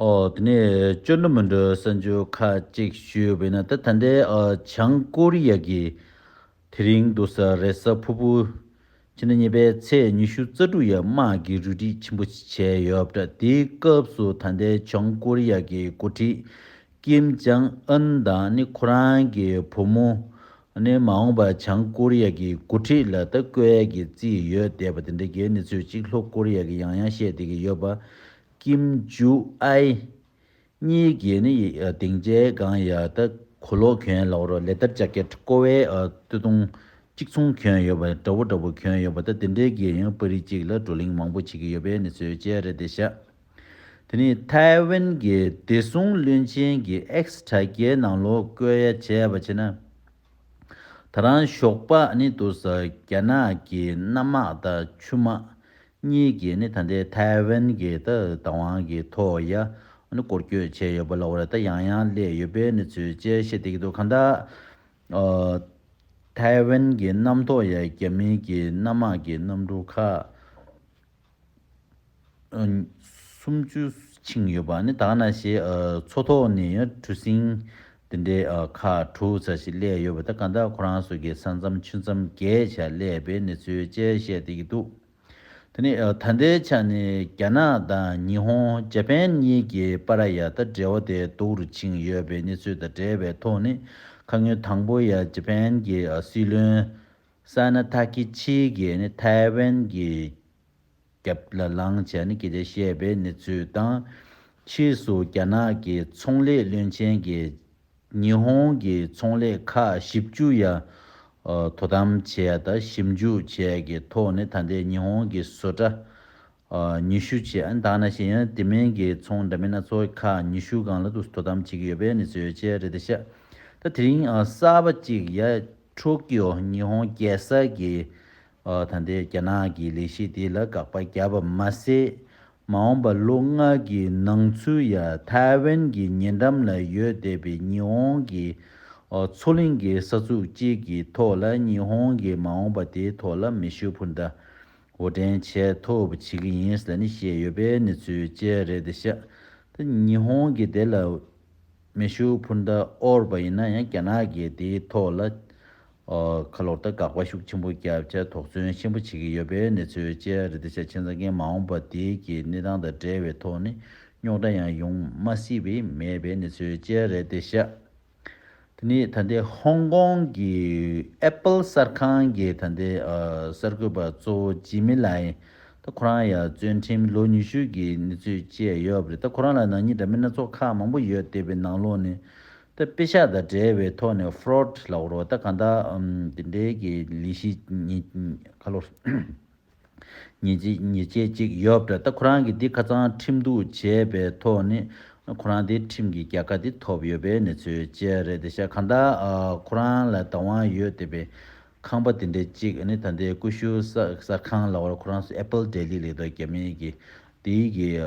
ཨོ། དེ་ནས་བཅོས་འགྲོ་མི་འགྲོ་གསལ་འབྱོར་ཁ་ཅིག་ཞུས་པས་ན་དེ་ད་ལྟའི་བྱང་ཀོ་རི་ཡ་གི་དེ་རིང་འདུག་ས་རེད་ས་ཕུ་ཕུ། ཕྱི་ཟླ་གཉིས་པའི་ཚེས་ཉི་ཤུ་རྩ་དྲུག་ཡར་དམག་གིས་རུལ་དྲི་ཆེན་པོ་ཞིག་བྱས་ཡོད་པ་འདྲ་དེའི་སྐབས་སུ་ད་ལྟའི་བྱང་ཀོ་རི་ཡ་གི་འགོ་ཁྲིད་ཀིམ་ཅང་ཨན་དང་ནི་ཁོ་རང་གི་བུ་མོ། ནས་མ་འོངས་པར་བྱང་ཀོ་རི་ཡ་གི་འགོ་ཁྲིད་ལ་ལྟ་སྐོལ་གྱི་རྩིས་ཡོད་བསྡད་པ་དེ་འདྲ་གྱི་གནས་ཚུལ་གཅིག་ལྷོ་ཀོ་རི་ཡ་གིས་ཡང་ཡང་བཤད་བསྡད་ཀྱི་ཡོད་པ། ཀིམ་ཇུ་ཨའི། གཉིས་ཀྱིས་ནི་སྡིངས་ཆའི་སྒང་ཡ་ལྟ་གོ་ལོག་གྱོན་ལ་བོར་ལེ་ལྟར་ལྕགས་ཀྱི་ཁྲ་ཀོ་བའི་སྟོད་ཐུང་གཅིག་མཚུངས་གྱོན་ཡོད་པ་འདྲ་བོ་འདྲ་བོ་གྱོན་ཡོད་པ་ལྟ་དེ་འདྲའི་གིས་ཡང་པར་རིས་གཅིག་ལ་བགྲོ་གླེང་མང་པོ་བྱེད་ཀྱི་ཡོད་པའི་གནས་ཚུལ་བཅས་རེད་བསྡད་ཤག་དེ་ནི་ཐའེ་ཝན་གྱི་བདེ་སྲུང་བློན་ཆེན་གྱི་ཨེགས་དྲ་རྒྱའི་ནང་ལོ་བསྐོས་ཡ་བྱས་པ་བྱས་ན། ད་རང་ཞོགས་པ་ནི་འདུག་ས་རྒྱ་ནག་གི་གནམ་དམག་དང་ཆུ་དམག་གཉིས་ཀྱིས་ནི་ད་ལྟའི་ཐའེ་ཝན་གྱི་ད་བདག་དབང་གི་ཐོག་ཡ་ནི་བསྐོར་བསྐྱོད་བྱས་ཡོད་པ་ལོ་རེ་ད་ཡང་ཡང་སླེད་ཡོད་པའི་གནས་ཚུལ་བཅས་བཤད་བསྡད་ཀྱི་འདུག་གང་ལྟར། ཐའེ་ཝན་གྱི་གནམ་ཐོག་ཡ་རྒྱ་མིན་གྱི་གནམ་དམག་གི་གནམ་གྲུ་ཁག་སུམ་བཅུ་ཆིངས་ཡོད་པ་ནི་དག་ན་ཞེས་མཚོ་ཐོག་ནས་གྲུ་གཟིངས་འདི་འདྲའི་ཁ་དྲུག་ཚ་ཞིག་གླས་ཡོད་པ་དེ་ག་འདྲ་ཁོ་རང་ཚོ་གི་ས་མཚམས་ཆུ་མཚམས་བརྒལ་བྱས་གླས་པའི་གནས་ཚུལ་བཅས་བཤད་དེ་ཡི་འདུག་དེ་ནི་ད་ལྟའི་ཆ་ནས་རྒྱ་ནག་དང་ཉི་ཧོང་རྗ་པན་གཉིས་ཀྱི་པ་ར་ཡ་ད་འབྲེལ་བ་དེ་སྡུག་རུ་ཕྱིན་ཡོད་པའི་གནས་ཚུལ་དང་འབྲེལ་བའི་ཐོག་ནས་ཁ་ངོས་དང་པོ་ཡ་རྗ་པན་གྱི་སྲིད་བློན་ས་ནི་ཐ་ཀི་ཆི་གྷེ་ནི་ཐའེ་ཝན་གྱི་རྒྱབ་ལ་ལངས་བྱས་ནས་གི་དེ་བཤད་པའི་གནས་ཚུལ་དང། ཕྱིས་སུ་རྒྱ་ནག་གི་ཚོང་ལས་བློན་ཆེན་གྱིས་ཉི་ཧོང་གི་ཚོང་ལས་ཁག་བཞི་བཅུ་ཡ་དོ་དམ་བྱས་དང་ཞིབ་འཇུག་བྱས་ཀྱི་ཐོག་ནས་ད་ལྟའི་ཉི་ཧོང་གི་བཟོ་གྲྭ་ཉི་ཤུ་བཅས་འདང་ན་ཤེས་ཡོན་དེ་མིན་གྱི་ཚོང་འདྲ་མིན་སྣ་ཚོགས་ཁག་ཉི་ཤུ་སྒང་ལ་དོ་དམ་བྱེད་ཀྱི་ཡོད་པའི་གནས་ཚུལ་ཡོད་ཅེས་རེད་དེ་བཤད། ད་དེ་རིང་གསར་པ་གཅིག་ཡ་ཁྲོ་ཀིའོ་ཉི་ཧོང་རྒྱལ་ས་ཀྱི་ད་ལྟའི་རྒྱ་ནག་གི་ལས་གཞི་དེ་ལ་དགག་པ་བརྒྱབ་པ་མ་ཟད། མ་འོངས་པ་ལོ་ལྔ་གི་ནང་ཚུད་ཡ་ཐའེ་ཝན་གྱི་ཉེ་འགྲམ་ལ་ཡོད་བསྡད་པའི་ཉི་ཧོང་གི་མཚོ་གླིང་གི་ས་ཚུགས་གཅིག་གི་ཐོག་ལ་ཉི་ཧོང་གི་མ་འོངས་པ་དེའི་ཐོག་ལ་མེ་ཤུགས་འཕུར་མདའ་གོ་དྲན་བྱས་ཐུབ་བྱེད་ཀྱི་ཡིན་ཟེར་ནས་བཤད་ཡོད་པའི་གནས་ཚུལ་བཅས་རེད་དེ་ཤ་སྟག་ཉི་ཧོང་གིས་དེ་ལ་མེ་ཤུགས་འཕུར་མདའ་དབོར་བ་ཡིན་ན་ཡང་རྒྱ་ནག་གིས་དེའི་ཐོག་ལ་ཁ་ལོ་སྟག་འགག་པ་ཤུགས་ཆེན་པོ་བརྒྱབ་བྱ་དོགས་ཟོན་ཆེན་པོ་བྱེད་ཀྱི་ཡོད་པའི་གནས་ཚུལ་བཅས་རེད་དེ་ཤ་ཆེན་རྩ་རྒན་མ་འོངས་པ་དེ་གི་གནས་སྟངས་དང་འབྲེལ་བའི་ཐོག་ནས་རྙོག་དྲ་ཡང་ཡོང་མ་སྲིད་པའི་མེད་པའི་གནས་ཚུལ་བཅས་རེད་དེ་ཤ་དེ་ནས་ད་ལྟའི་ཧོང་ཀོང་གི Apple གསར་ཁང་གི་ད་ལྟའི་གསར་འགོད་པ་གཙོ་བོ་ཇི་མི་ལའེ། ད་ཁོ་རང་ཡ་བརྩོན་འགྲེམས་ལོ་ཉི་ཤུ་གྱི་གནས་ཚུལ་བཅས་ཡོད་པ་རེད་ད་ཁོ་རང་ལ་ནག་ཉེས་འདྲ་མིན་སྣ་ཚོགས་ཁག་མང་པོ་ཡོད་བལྟས་པའི་ནང་ལོགས་ནས་ད་དཔེ་ཤག་དང་འབྲེལ་བའི་ཐོག་ནས Fraud ལ་བོར་བ་ད་གང་དག་དེ་འདྲའི་གི་ལས་གཞི་ཉིད་ཁ་ལོ། ཉེས་ཆད་ཅིག་ཡོད་པ་རེད་ད་ཁོ་རང་གིས་འདི་ཁ་ཚང་ཁྲིམས་གཏུག་བྱས་པའི་ཐོག་ནས་ཁོ་རང་དེ་ཁྲིམས་ཀྱི་རྒྱལ་ཁ་དེ་ཐོབ་ཡོད་པའི་གནས་ཚུལ་བཅས་རེད་དེ་ཤ་གང་དག་ཁོ་རང་ལ་བདག་དབང་ཡོད་བསྡད་པའི་ཁང་པ་དེ་འདྲའི་ཅིག་ནི་ད་ལྟའི་ཀུ་ཤུ་གསར་ཁང་ལ་བར་ཁོ་རང་སུ Apple Daily ལེགས་ལྡོག་རྒྱ་མི་གིས་དེའི་གིས་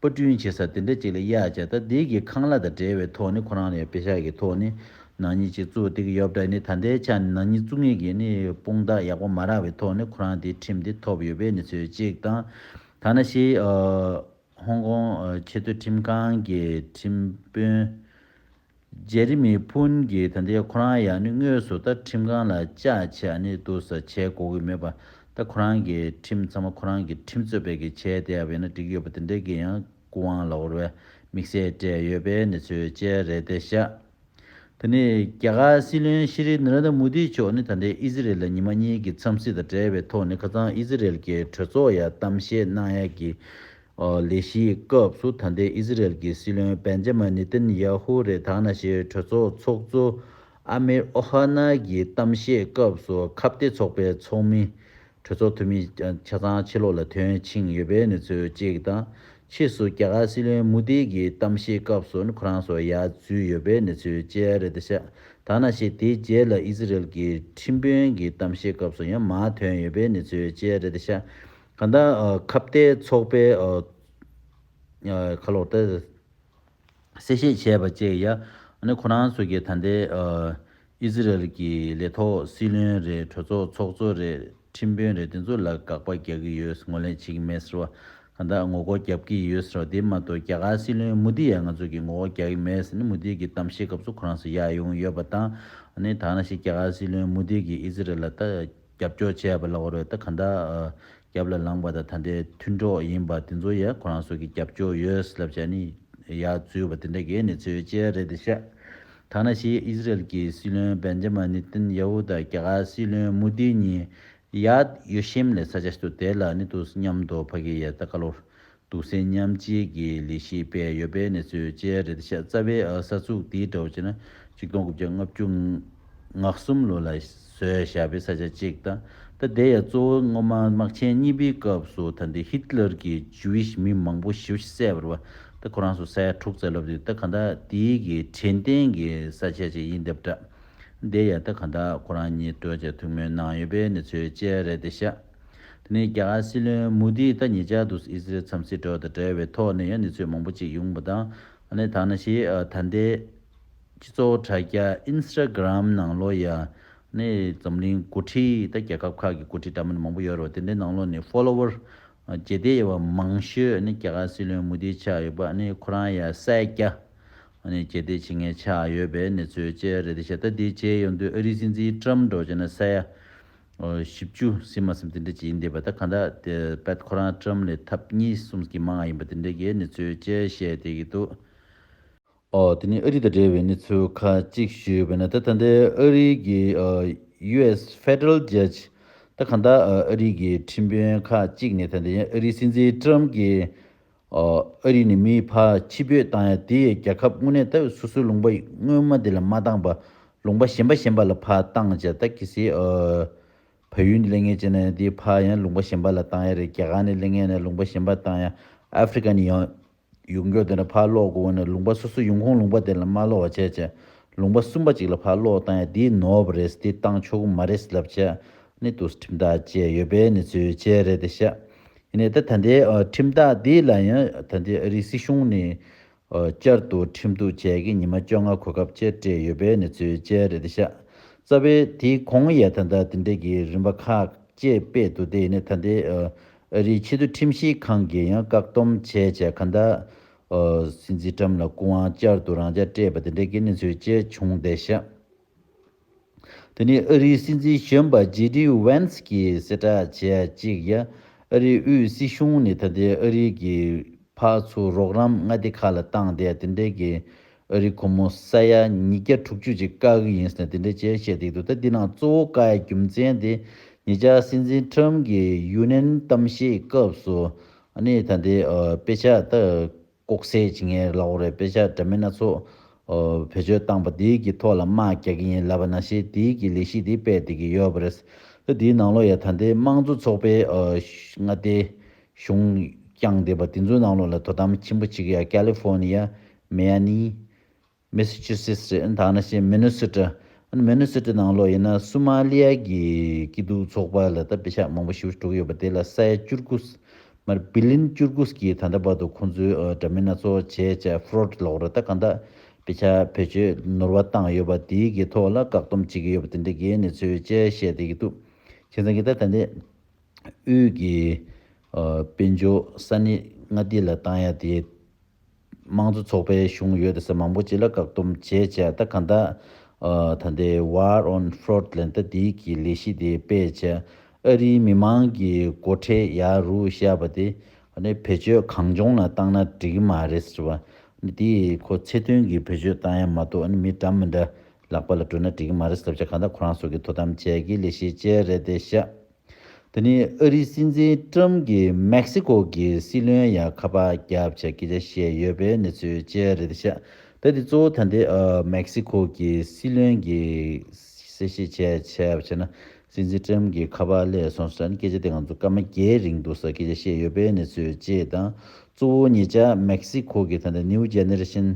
པར་སྐྲུན་བྱེད་ས་དེ་འདྲ་ཅིག་ལ་གཡག་རྒྱ་ཐ་དད་ཀྱི་ཁང་གླ་དང་བྲལ་བའི་ཐོག་ནས་ཁོ་རང་ལ་ཡང་བེ་ཤ་གི་ཐོག་ནས་ནག་ཉེས་ཅིག་བཙུགས་ཏེ་གི་ཡོབ་དྲ་ནི་ད་ལྟའི་ཆ་ནས་ནག་ཉེས་བཙུགས་ངེས་ཀྱི་ནི་དཔུང་རྟགས་ཡག་པོ་མ་རག་བའི་ཐོག་ནས་ཁོ་རང་དེའི་ཁྲིམས་དེ་ཐོབ་ཡོད་པའི་ནི་ཚོད་གཅིག་དང། ཐ་ན་ཤི་ཧོང་ཀོང་ཆེ་མཐོའི་ཁྲིམས་ཁང་གི་ཁྲིམས་དཔོན། རྗེ་རིན་མི་ཕུན་གྱིས་ད་ལྟའི་ཁོ་རང་ཡང་ནི་དངོས་སུ་ད་ཁྲིམས་ཁང་ལ་བཅའ་བྱས་ཨ་ནི་དུ་ས་བྱས་གོ་གི་མེད་པ་ད་ཁོ་རང་གིས་ཁྲིམས་ཚང་མ་ཁོ་རང་གིས་ཁྲིམས་རྩོད་པས་གིས་བྱས་བསྡད་ཡོད་ན་འགྲིག་ཡོད་པ་དེ་འདྲའི་གིས་ཡང་སྐུ་དབང་ལ་འོར་བའི་དམིགས་བསལ་སྤྲད་ཡོད་པས་ནི་ཚོས་བཅད་རེད་དེ་བཞག་ད་ནི་རྒྱ་གར་སྲིད་བློན་ཤི་རི་ནར་ནྡ་མུ་དྷི་མཆོག་ནི་ད་ལྟའི་ཨི་ཟི་རེལ་ལ་ཉི་མ་གཉིས་ཀྱི་འཚམས་གཟིགས་དང་འབྲེལ་བའི་ཐོག་ནི་ཁ་ཚང་ཨི་ཟི་རེལ་གྱི་གྲོས་ཚོགས་ཡ་གཏམ་བཤད་གནང་ཡ་གི་ལས་གཞིའི་སྐབས་སུ་ད་ལྟའི་ཨི་ཟི་རལ་གྱི་སྲིད་བློན་པན་ཇེ་མ་ནི་ཏིན་ཡཱ་ཧུ་རེ་དྭགས་ན་ཤི་གྲོས་ཚོགས་ཚོགས་གཙོ་ཨ་མིར་ཨོ་ཧ་ནཱ་གྱི་གཏམ་བཤད་སྐབས་སུ་ཁ་བརྡའི་ཚོགས་པའི་ཚོགས་མི། གྲོས་ཚོགས་འཐུས་མི་ཆ་ཚང་ཕྱི་ལོགས་ལ་ཐོན་ཕྱིན་ཡོད་པའི་གནས་ཚུལ་གཅིག་དང། ཕྱིས་སུ་རྒྱ་གར་སྲིད་བློན་མུ་དྷི་གྱི་གཏམ་བཤད་སྐབས་སུ་ཁོ་རང་སོགས་ཡར་འཛུལ་ཡོད་པའི་གནས་ཚུལ་བཅས་རེད་ད་ཤ་དྭགས་ན་ཤི་དེའི་རྗེས་ལ་ཨི་ཟི་རལ་གྱི་ཁྲིམས་དཔོན་གྱི་གཏམ་བཤད་སྐབས་སུ་ཡང་མ་ཐོན་ཡོད་པའི་གནས་ཚུལ་བཅས་རེད་ད་ཤ་གང་དག་ཁ་བརྡའི་ཚོགས་པའི། ཁ་ལོག་སྟེ། གསལ་བཤད་བྱས་པ་བཅས་ཡ། ནི་ཁོ་རང་ཚོ་གི་ད་ལྟའི། ཨི་ཟི་རལ་གྱི་ལས་ཐོག་སྲིད་བློན་རེད་གྲོས་ཚོགས་ཚོགས་གཙོ་རེད་ཁྲིམས་དཔོན་རེད་དེ་ཚོ་ལ་དགག་པ་རྒྱག་གི་ཡོད་ངོ་ལེན་བྱེད་ཀྱི་མེད་ཟེར་བ། གང་དག་ངོ་རྒོལ་རྒྱབ་ཀྱི་ཡོད་ཟེར་བ་དེ་མ་གཏོགས་རྒྱ་གར་སྲིད་བློན་མུ་དྷི་ཡ་ང་ཚོ་གི་ངོ་རྒོལ་རྒྱག་གི་མེད་ཟེར་ནས་མུ་དྷི་གི་གཏམ་བཤད་སྐབས་སུ་ཁོ་རང་ཚོ་ཡ་ཡོང་ཡོད་པ་དང། ནི་དག་ན་ཞིག་རྒྱ་གར་སྲིད་བློན་མུ་དྷི་གིས་ཨི་ཟི་རལ་ལ་ད། རྒྱབ་སྐྱོར་བྱས་པ་ལ་འོ་རོད་ད་ག་འདྲ་རྒྱབ་ལ་ལངས་པ་དང་ད་འདྲའི་མཐུན་གྲོགས་ཡིན་པ་དེ་ཚོ་ཡང་ཁོ་རང་ཚོ་གི་རྒྱབ་སྐྱོར་ཡོད་ལབ་བྱ་ནི་ཡ་རྫུས་པ་དེ་འདྲ་གས་ནི་ཚོད་ཅལ་རེད་དེ་ཤ་ཐང་ན་ཤི་ཨིས་རལ་གི་སྲིད་བློན་བན་ཇ་མ་ནི་ཏིན་ཡ་ཧུ་དང་རྒྱ་གར་སྲིད་བློན་མུ་དི་གཉིས་ཡ་ཡོ་ཤེམ་ལས་ས་ཆ་ཤི་ཏོ་དེ་ལ་ནི་ཏུ་སི་མཉམ་དུ་ཕ་གི་ཡ་ད་ཀ་ལོར་དུག་སེལ་མཉམ་བཅོས་ཀྱི་ལས་གཞི་སྤེལ་ཡོད་པའི་གནས་ཚུལ་བཅས་རེད་དེ་ཤ་རྩ་བའི་ས་ཚུགས་དེའི་གྲོགས་གཅིག་ན་གཅིག་སྟོང་དགུ་བརྒྱ་ལྔ་བཅུ་ང་གསུམ་ལོ་ལ་བཟོས་བཞག་པའི་ས་ཆ་གཅིག་དང་ད་དེ་ཡང་གཙོ་བོ་སྔོན་མ་དམག་ཆེན་གཉིས་པའི་སྐབས་སུ་ད་ལྟའི་ཧི་ཏི་ལར་གྱི Jewish མི་མང་པོ་ཞི་བ་ཞིག་བསད་པར་བ་ད་ཁོ་རང་སོ་ས་ཡ་དྲུག་བཙལ་ལོབས་དེ་ད་ག་ད་དེའི་གི་དྲན་རྟེན་གྱི་ས་ཆ་ཅིག་ཡིན་དེ་བཀྲ་དེ་ཡང་ད་ག་ད་ཁོ་རང་གཉིས་གྲོས་བཅད་ཐུགས་སྨོན་གནང་ཡོད་པའི་གནས་ཚུལ་བཅས་རེད་དེ་ཤ། དེ་ནས་རྒྱ་གར་སྲིད་བློན་མུ་དྷིས་ད་ཉེ་ཆར་དུ་ཨི་ཟི་རལ་འཚམས་གཟིགས་འགྲོ་བ་དང་འབྲེལ་བའི་ཐོག་ནས་ཡང་ནས་ཚོད་མང་པོ་ཅིག་ཡོང་པ་དང་ནས་ད་ནས་ཞེས་ད་ལྟའི་སྤྱི་ཚོགས་དྲ་རྒྱ Instagram ནང་ལོ་ཡ་ནས་འཛམ་གླིང་འགོ་ཁྲིད་དང་རྒྱལ་ཁབ་ཁག་གི་འགོ་ཁྲིད་འདྲ་མིན་མང་པོ་ཡོད་རེད་བ་དེ་འདྲའི་ནང་ལོ་ནས Follower བརྒྱད་བརྒྱ་ཡས་བ་མང་ཤོས་ནས་རྒྱ་གར་སྲིད་བློན་མུ་དྷིའི་ཆགས་ཡོད་པ་ནས་ཁོ་རང་ཡ་སད་བརྒྱ་ནས་རྒྱལ་གཏད་བྱེད་མཁན་ཆགས་ཡོད་པའི་ནས་ཚོད་བཅས་རེད་དེ་བཞག་ད་དེའི་རྗེས་ཡོང་དུས་ཨ་རིའི་སྲིད་འཛིན Trump འགྲོ་བྱས་ན་ས་ཡ། བཞི་བཅུ་སྲིད་མ་སེམས་དེ་འདྲས་ཀྱི་ཡིན་འདས་པ་དང་གང་དག་དེ་དཔལ་ཁོ་རང་ཀྲམ་ལས་ཐབས་གཉིས་གསུམ་གྱི་མ་ང་ཡིན་པ་དེ་འདྲས་ཀྱི་ནི་ཚུལ་བཅས་བཤད་བསྡད་ཀྱི་འདུག་དེ་ནི་ཨ་རི་དང་འབྲེལ་བའི་ནི་ཚུལ་ཁ་གཅིག་ཞུས་བས་ན་ད་ད་འདའི་ཨ་རི་གི US Federal Judge དང་གང་དག་ཨ་རི་གི་ཁྲིམས་དཔོན་ཁག་གཅིག་ནི་ད་འདའི་ཨ་རི་སྲིད་འཛིན་ཀྲམ་གྱི་ཨ་རི་ནི་མིའི་ཕ་ཁྱི་བོས་བཏང་ཡ་དེ་ཡས་རྒྱ་ཁབ་དངོས་གནས་ལྟ་བས་སོ་སོའི་ལུང་པ་དངོས་མ་དེ་ལ་མ་བཏང་བ་ལུང་པ་གཞན་པ་གཞན་པ་ལ་ཕ་བཏང་བྱས་ད་གི་སི་ཨ་བ་ཡུལ་ནས་གླེང་ཡས་ཅི་ན་ཡང་དེའི་ཕ་ཡང་ལུང་པ་གཞན་པ་ལ་བཏང་ཡ་རེད་རྒྱ་གར་ནས་གླེང་ཡས་ན་ལུང་པ་གཞན་པ་བཏང་ཡ་ཨ་ཕི་རི་ཀ་ནས་ཡང་ཡུག་མགྱོགས་དེ་ན་ཕ་ཀློག་དགོས་བ་ན་ལུང་པ་སོ་སོ་ཡུང་ཁོང་ལུང་པ་དེ་ལ་མ་ཀློག་བ་བྱས་བྱས་ལུང་པ་གསུམ་པ་ཅིག་ལ་ཕ་ཀློག་བཏང་ཡ་དེའི་ནོར་བ་རེད་དེ་བཏང་ཆོག་གི་མ་རེད་ལབ་བྱས་ནས་དུ་སི་ཁྲིམས་ཐག་བཅད་ཡོད་པས་ནི་བརྩོད་བྱས་རེད་དེ་བཤད་ཡིན་ནའི་ད་ལྟའི་ཁྲིམས་ཐག་འདི་ལ་ཡང་ད་ལྟའི་ཨ་རིའི་སྲིད་གཞུང་ནས་བསྐྱར་དུ་ཁྲིམས་གཏུག་བྱས་ཀྱི་ཉི་མ་བཅོ་ལྔ་གོ་སྐབས་བཅས་སྤྲད་ཡོད་པའི་གནས་ཚུལ་བཅས་རེད་དེ། ཤ་ཚ་བས་དེ་གོང་ཡས་ད་ལྟ་དེ་འབྲེལ་གྱི་རིམ་པ་ཁག་བཅས་སྤེལ་འདུག་དེ་ཡིན་ནའི་ད་ལྟའི་ཨ་རིའི་ཕྱི་དོན་ཁྲིམས་ཞིབ་ཁང་གིས་ཡང་བཀག་སྡོམ་བྱས་བྱས་ག་ད་སྲིད་འཛིན་ཁྲམ་ལ་སྐུ་དབང་བསྐྱར་དུ་རང་འཇགས་སྤྲད་པ་དེ་འབྲེལ་གྱི་གནས་ཚུལ་བཅས་བྱུང་སྟེ། ཤ། དེ་ནི་ཨ་རིའི་སྲིད་འཛིན་གཞོན་པ་ཇེ་ལྡི་བྷན་སི་ཀིས་གསལ་བསྒྲགས་བྱས་གཅིག་ཡ། ཨ་རིའི་དབུས་སྲིད་གཞུང་ནི་ད་ལྟའི་ཨ་རིའི་གི་ཕག་ཆུ་རོགས་རམ་མངའ་སྡེ་ཁག་ལ་བཏང་སྟེ་དེ་འདྲའི་གི་ཨ་རི་གོ་མོ་ས་ཡ་ཉིས་བརྒྱ་དྲུག་ཅུ་ཅིག་བཀག་གི་ཡིན་ཟེར་ནས་དེ་འདྲའི་བྱས་བྱས་སྡིག་འདུག་ད་འདི་ནང་གཙོ་བོ་བཀའ་ཡི་རྒྱུ་མཚན་དེ་ཉེ་ཆར་སྲིད་འཛིན་ཁྲོམ་གི་ཡུ་ནན་གཏམ་བཤད་སྐབས་སུ་ཨ་ནི་ད་འདི་དཔེ་ཆ་ད་ལྐོག་ཟས་ཀྱི་ངའི་ལག་འོག་རེད་དཔེ་ཆ་འདྲ་མིན་སྣ་ཚོགས། བེད་སྤྱོད་བཏང་པ་དེའི་གི་ཐོག་ལ་དམག་རྒྱག་གི་ཡིན་ལབ་པ་ན་ཞེས་དེའི་གི་ལས་གཞི་དེ་སྤེལ་བསྡད་ཀྱི་ཡོད་པ་རེད། ད་དེའི་ནང་ལོ་ཡ་ད་ལྟའི་དམངས་གཙོ་ཚོགས་པའི། མངའ་སྡེ། གཞུང། བསྐྱངས་བསྡད་པ་དེ་ཚོའི་ནང་ལོ་ལ་དོ་དམ་ཁྱིམ་པོ་གཅིག་ཡ་ཀལི་ཧྥོ་ནི་ཡ། མེ་ཡ་ནི། མེ་སི་ཆུ་སིས་རེད་ད་ནི་ཤེས་མེ་ནོ་སི་ཀྲ་ཨན་མེ་ནོ་སི་ཀྲ་ནང་ལོགས་ཡིན་ན་སུ་མཱ་ལི་ཡ་གི་སྐྱིད་སྡུག་ཚོགས་པ་ལ་ད་བེ་ཤག་མང་པོ་ཞུ་དྲུག་ཡོད་པ་དེ་ལ་སའི་ཅུར་ཀུ་སི་མར་བི་ལིན་ཅུར་ཀུ་སི་གི་ད་ལྟ་བར་དུ་ཁོང་ཚོའི་འདྲ་མིན་སྣ་ཚོགས་བྱས་བྱས་ཧྥུ་རོ་ཏི་ལོགས་ར་ད་གང་ད་བེ་ཤག་བེད་སྤྱོད་ནོར་བ་བཏང་ཡོད་པ་དེ་གི་ཐོག་ལ་བཀག་སྡོམ་བྱེད་ཀྱི་ཡོད་པ་དེ་འདྲ་གི་གནས་ཚུལ་བཅས་བཤད་དེ་གི་འདུག་ཁྱེད་ཚང་གི་ད་ད་ནི་དབུས་གི་དཔལ་འབྱོར་ས་ནི་མངའ་སྡེ་ལ་བཏང་ཡ་དེ། དམངས་གཙོ་ཚོགས་པའི་གཞུང་ཡོད་ད་ས་མང་པོ་ཅི་ལ་བཀག་སྡོམ་བྱས་བྱས་ད་གང་ད། ད་ལྟའི War on Fraud ལན་ད་འདི་གི་ལས་གཞི་དེ་སྤེལ་བྱས་ཨ་རིའི་མི་མང་གི་མགོ་ཁྲེས་ཡ་རུ་བཤད་པ་དེ། ནི་བེད་སྤྱོད་གང་བྱུང་ལ་བཏང་ན་འགྲིག་གི་མ་རེད་ཟེར་བ། ནི་དེ་ཁོ་ཚེ་དོན་གི་བེད་སྤྱོད་བཏང་ཡ་མ་གཏོགས་ནི་མི་འདྲ་མི་འདྲ་ལག་པ་ལ་སྤྲོད་ན་འགྲིག་གི་མ་རེད་ཟེར་བྱས་གང་ད་ཁོ་རང་སོགས་ཀྱི་དོ་དམ་བྱས་ཀྱི་ལས་གཞི་བཅས་རེད་དེ་བཤད། འདི་ནི་ཨ་རིའི་སྲིད་འཛིན་ཀྲུམ་གྱིས་མེག་སི་ཀོ་གི་སྲིད་བློན་ཡང་ཁ་པ་བརྒྱབ་བྱ་སྐད་ཆ་བཤད་ཡོད་པའི་གནས་ཚུལ་བཅས་རེད་དེ་ཤ་ཏེ་འདི་གཙོ་བོ་ད་ལྟའི་མེག་སི་ཀོ་གི་སྲིད་བློན་གྱིས་གསལ་བཤད་བྱས་བྱས་པ་བྱས་ན་སྲིད་འཛིན་ཀྲུམ་གྱི་ཁ་པ་ཀླད་སོང་ཟེར་ན་སྐད་ཆ་དེ་ང་ཚོ་སྐར་མ་བརྒྱད་རིང་འདུག་ས་སྐད་ཆ་བཤད་ཡོད་པའི་གནས་ཚུལ་བཅས་དང་གཙོ་བོ་ངེད་ཅག་མེག་སི་ཀོ་གི་ད་ལྟ་ནིའུ་རྒྱ་ནེར་ཤན་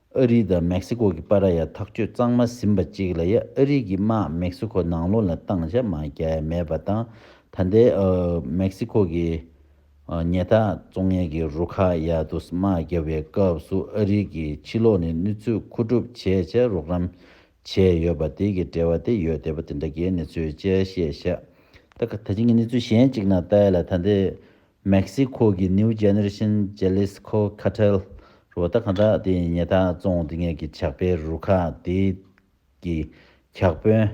ཨ་རི་དང་མེག་སི་ཀོ་གི་པ་ར་ཡ་ཐག་གཅོད་གཙང་མ་ཟིན་པ་གཅིག་ལ་ཡ་ཨ་རི་གི་དམག་མེག་སི་ཀོ་ནང་ལོག་ལ་བཏང་བྱ་མ་རྒྱག་ཡ་མེད་པ་དང་ད་ལྟའི་མེག་སི་ཀོ་གི་ཉེ་ཐག་གཙོ་ངན་གི་རུ་ཁག་ཡ་དུ་སི་དམག་རྒྱབ་པའི་སྐབས་སུ་ཨ་རི་གི་ཕྱི་ལོག་ནས་ནུས་ཚོད་མཁོ་སྒྲུབ་བྱས་བྱ་རོགས་རམ་བྱས་ཡོད་པ་དེ་གི་འབྲེལ་བ་དེ་ཡོད་དེ་པ་དེ་འདྲ་གའི་གནས་ཚུལ་དཔྱད་བཤད་བྱ་ད་ག་ད་ཅི་ངས་གནས་ཚུལ་གཞན་གཅིག་ནང་ལྟ་ཡ་ལ་ད་ལྟའི་མེག་སི་ཁོ་གི་ནིའུ་ཇེ་ནེ་རེ་ཤན་ཇེ་ལེ་སི་ཁོ་ཁ་ཐལ་རུ་བ་ད་ག་འདྲ་དེ་ཡིན་ཉེ་ད་བཙོང་སྡིག་ངན་གྱི་ཇག་པའི་རུ་ཁག་དེ་གི་གྱག་དཔོན་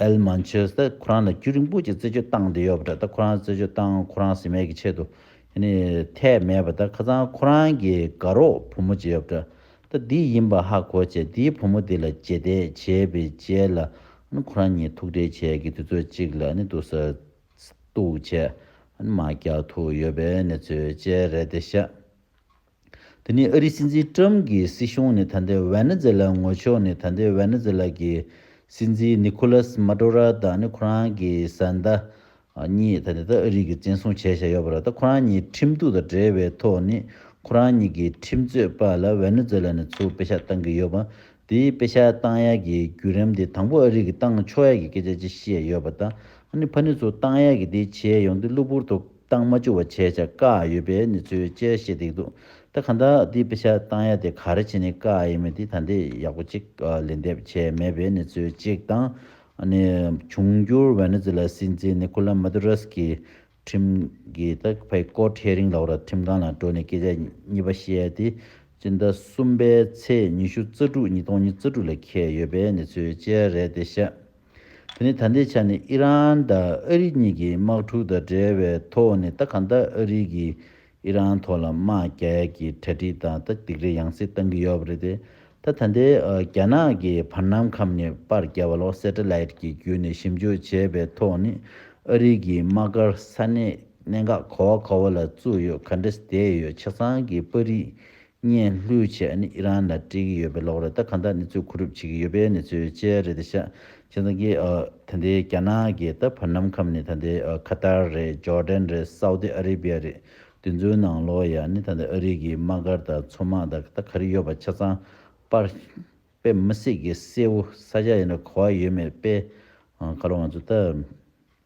ཨེལ་མན་ཆོས་ད་ཁོ་རང་ལ་རྒྱུ་རིང་པོ་ཅིག་རྩད་གཅོད་བཏང་དེ་ཡོད་པ་འདྲ་ད་ཁོ་རང་རྩད་གཅོད་བཏང་ཁོ་རང་ཟིན་མེད་ཀྱི་ཆེད་དུ་ནི་འཐད་མེད་པ་ད་ཁ་ཚང་ཁོ་རང་གི་དགའ་རོགས་བུ་མོ་ཅིག་ཡོད་པ་འདྲ་ད་འདི་ཡིན་པ་ཧ་གོ་བྱས་འདིའི་བུ་མོ་འདི་ལ་རྗེས་འདེད་བྱས་པའི་རྗེས་ལ་ནི་ཁོ་རང་གཉིས་ཐུག་འཕྲད་བྱས་ཀྱི་དུས་ཚོད་ཅིག་ལ་ནི་འདུག་ས་གཏུག་བྱས། མ་རྒྱ་ཐུག་ཡོད་པའི་གནས་ཚུལ་བཅས་རེད་དེ་བཤད། དེ་ནི་ཨ་རིའི་སྲིད་འཛིན་ཀྲུམ་གྱི་སྲིད་གཞུང་ནི་ད་ལྟའི་ཝེ་ནེ་ཛེ་ལ་ངོ་ཕྱོགས་ནི་ད་ལྟའི་ཝེ་ནེ་ཛེ་ལ་གྱི་སྲིད་འཛིན་ནི་ཁུ་ལཱས་མཱ་ཏོ་རཱ་དང་ནི་ཁོ་རང་གི་བཟའ་ཟླ་གཉིས་ད་ནི་ད་ཨ་རིག་གི་བཙན་བཟུང་བྱས་བཞག་ཡོད་པ་རེད་ད་ཁོ་རང་གཉིས་ཁྲིམས་གཏུག་དང་འབྲེལ་བའི་ཐོག་ནི་ཁོ་རང་གཉིས་ཀྱི་ཁྲིམས་རྩོད་པ་ལ་ཝེ་ནེ་ཛེ་ལ་ནས་ཚུར་དཔེ་ཆ་བཏང་གི་ཡོད་པ་དེའི་དཔེ་ཆ་ཏང་ཡག་གི་བརྒྱུད་རིམ་དེ་དང་པོ་ཨ་རིག་གི་ཏང་ཕྱོགས་ཡག་གི་སྐད་ཆ་ཅི་ཤེས་ཡོད་པ་དང་ཨ་ནི་ཕ་ནི་ཚོ་ཏང་ཡག་གི་དེ་བྱས་ཡོང་དུས་གློ་བུར་དུ་ཏང་མ་བཅུ་བ་བྱས་བྱ་དཀའ་ཡོད་པའི་ནི་ཚོའི་དཔྱད་བཤད་དེ་འདུག་ད་ག་འདྲ་དེའི་དཔེ་ཆ་ཏང་ཡག་དེ་ག་རེ་བྱས་ནས་དཀའ་ཡིན་མིན་དེ་ད་འདི་ཡག་པོ་གཅིག་ལེན་འདེབས་བྱས་མེད་པའི་ནི་ཚོའི་གཅིག་དང་ཨ་ནི་འབྱུང་འགྱུར་བའི་ནི་ཚོ་ལ་སྲིད་འཛིན་ནི་ཁོ་ལ་མ་དུ་ར་སི་ཀི་ཁྲིམས་ཀྱི་ཐད་བལ་སྐོར་ཁྲེ་རིང་ལགས་ར་ཁྲིམས་ཁང་ལ་འགྲོ་ནས་སྐད་ཆ་གཉིས་པ་བཤད་དེ་སྤྱི་ཟླ་གསུམ་པའི་ཚེས་ཉི་ཤུ་རྩ་དྲུག་ཉིས་སྟོང་གཉིས་རྩ་དྲུག་ལ་ཁེལ་ཡོད་པའི་གནས་ཚུལ་བཅས་རེད་དེ་བཤད། དེ་ནི་ད་ལྟའི་ཆ་ནས་ཨི་རན་དང་ཨ་རི་གཉིས་ཀྱི་དམག་འཁྲུག་དང་འབྲེལ་བའི་ཐོག་ནས་ད་ག་ཟླ་ཨ་རི་གིས་ཨི་རན་ཐོག་ལ་དམག་རྒྱག་ཡ་གི་གྲ་སྒྲིག་དང་ད་དིག་རེ་ཡང་སེ་བཏང་གི་ཡོད་པ་རེད་དེ། ད་ད་འདི་རྒྱ་ནག་གི་བར་སྣང་ཁམས་ནས་པར་རྒྱ་བ་ལོག་སེ་ཏྲ་ལེད་ཀྱི་བརྒྱུད་ནས་ཞིབ་འཇུག་བྱས་པའི་ཐོག་ནི་ཨ་རིག་གི་དམག་སྒར་ས་གནས་གནད་འགག་གོ་བ་གོ་བ་ལ་བཙུགས་ཡོད་ག་འདྲ་སེ་དེ་ཡོད་ཆ་ཚང་གི་པར་རིས་བརྙན་ལྷོའི་ཆེད་ཨ་ནི་ཨི་རན་ལ་སྤྲད་ཀྱི་ཡོད་པའི་ལོག་རེད་ད་གང་ལྟར་ནི་ཚོད་ཁུ་རུབ་བྱེད་ཀྱི་ཡོད་པའི་ནི་ཚོད་དཔྱད་རེད་ད་ཤ་ཁྱེད་ཚང་གི་ད་ལྟའི་རྒྱ་ནག་གི་ད་བར་ནམ་ཁམས་ནི་ད་ལྟའི་ཁ་ཏར་རེད་ཇོར་དན་རེད་སའུ་ཏི་ཨ་རི་བྷི་ཡ་རེད་དུས་ཚོད་ནང་ལོག་ཡ་ནི་ད་ལྟའི་ཨ་རི་གི་དམག་སྒར་དང་མཚོ་དམག་ད་ད་ག་རེ་ཡོད་པ་ཆ་ཚང་པར་དཔེ་མི་སྲིད་གི་གསལ་བོ་ས་ཆ་ཡིན་ན་གོ་བ་ཡོད་མེད་དཔེ་ག་ལོ་ང་ཚོ་ད།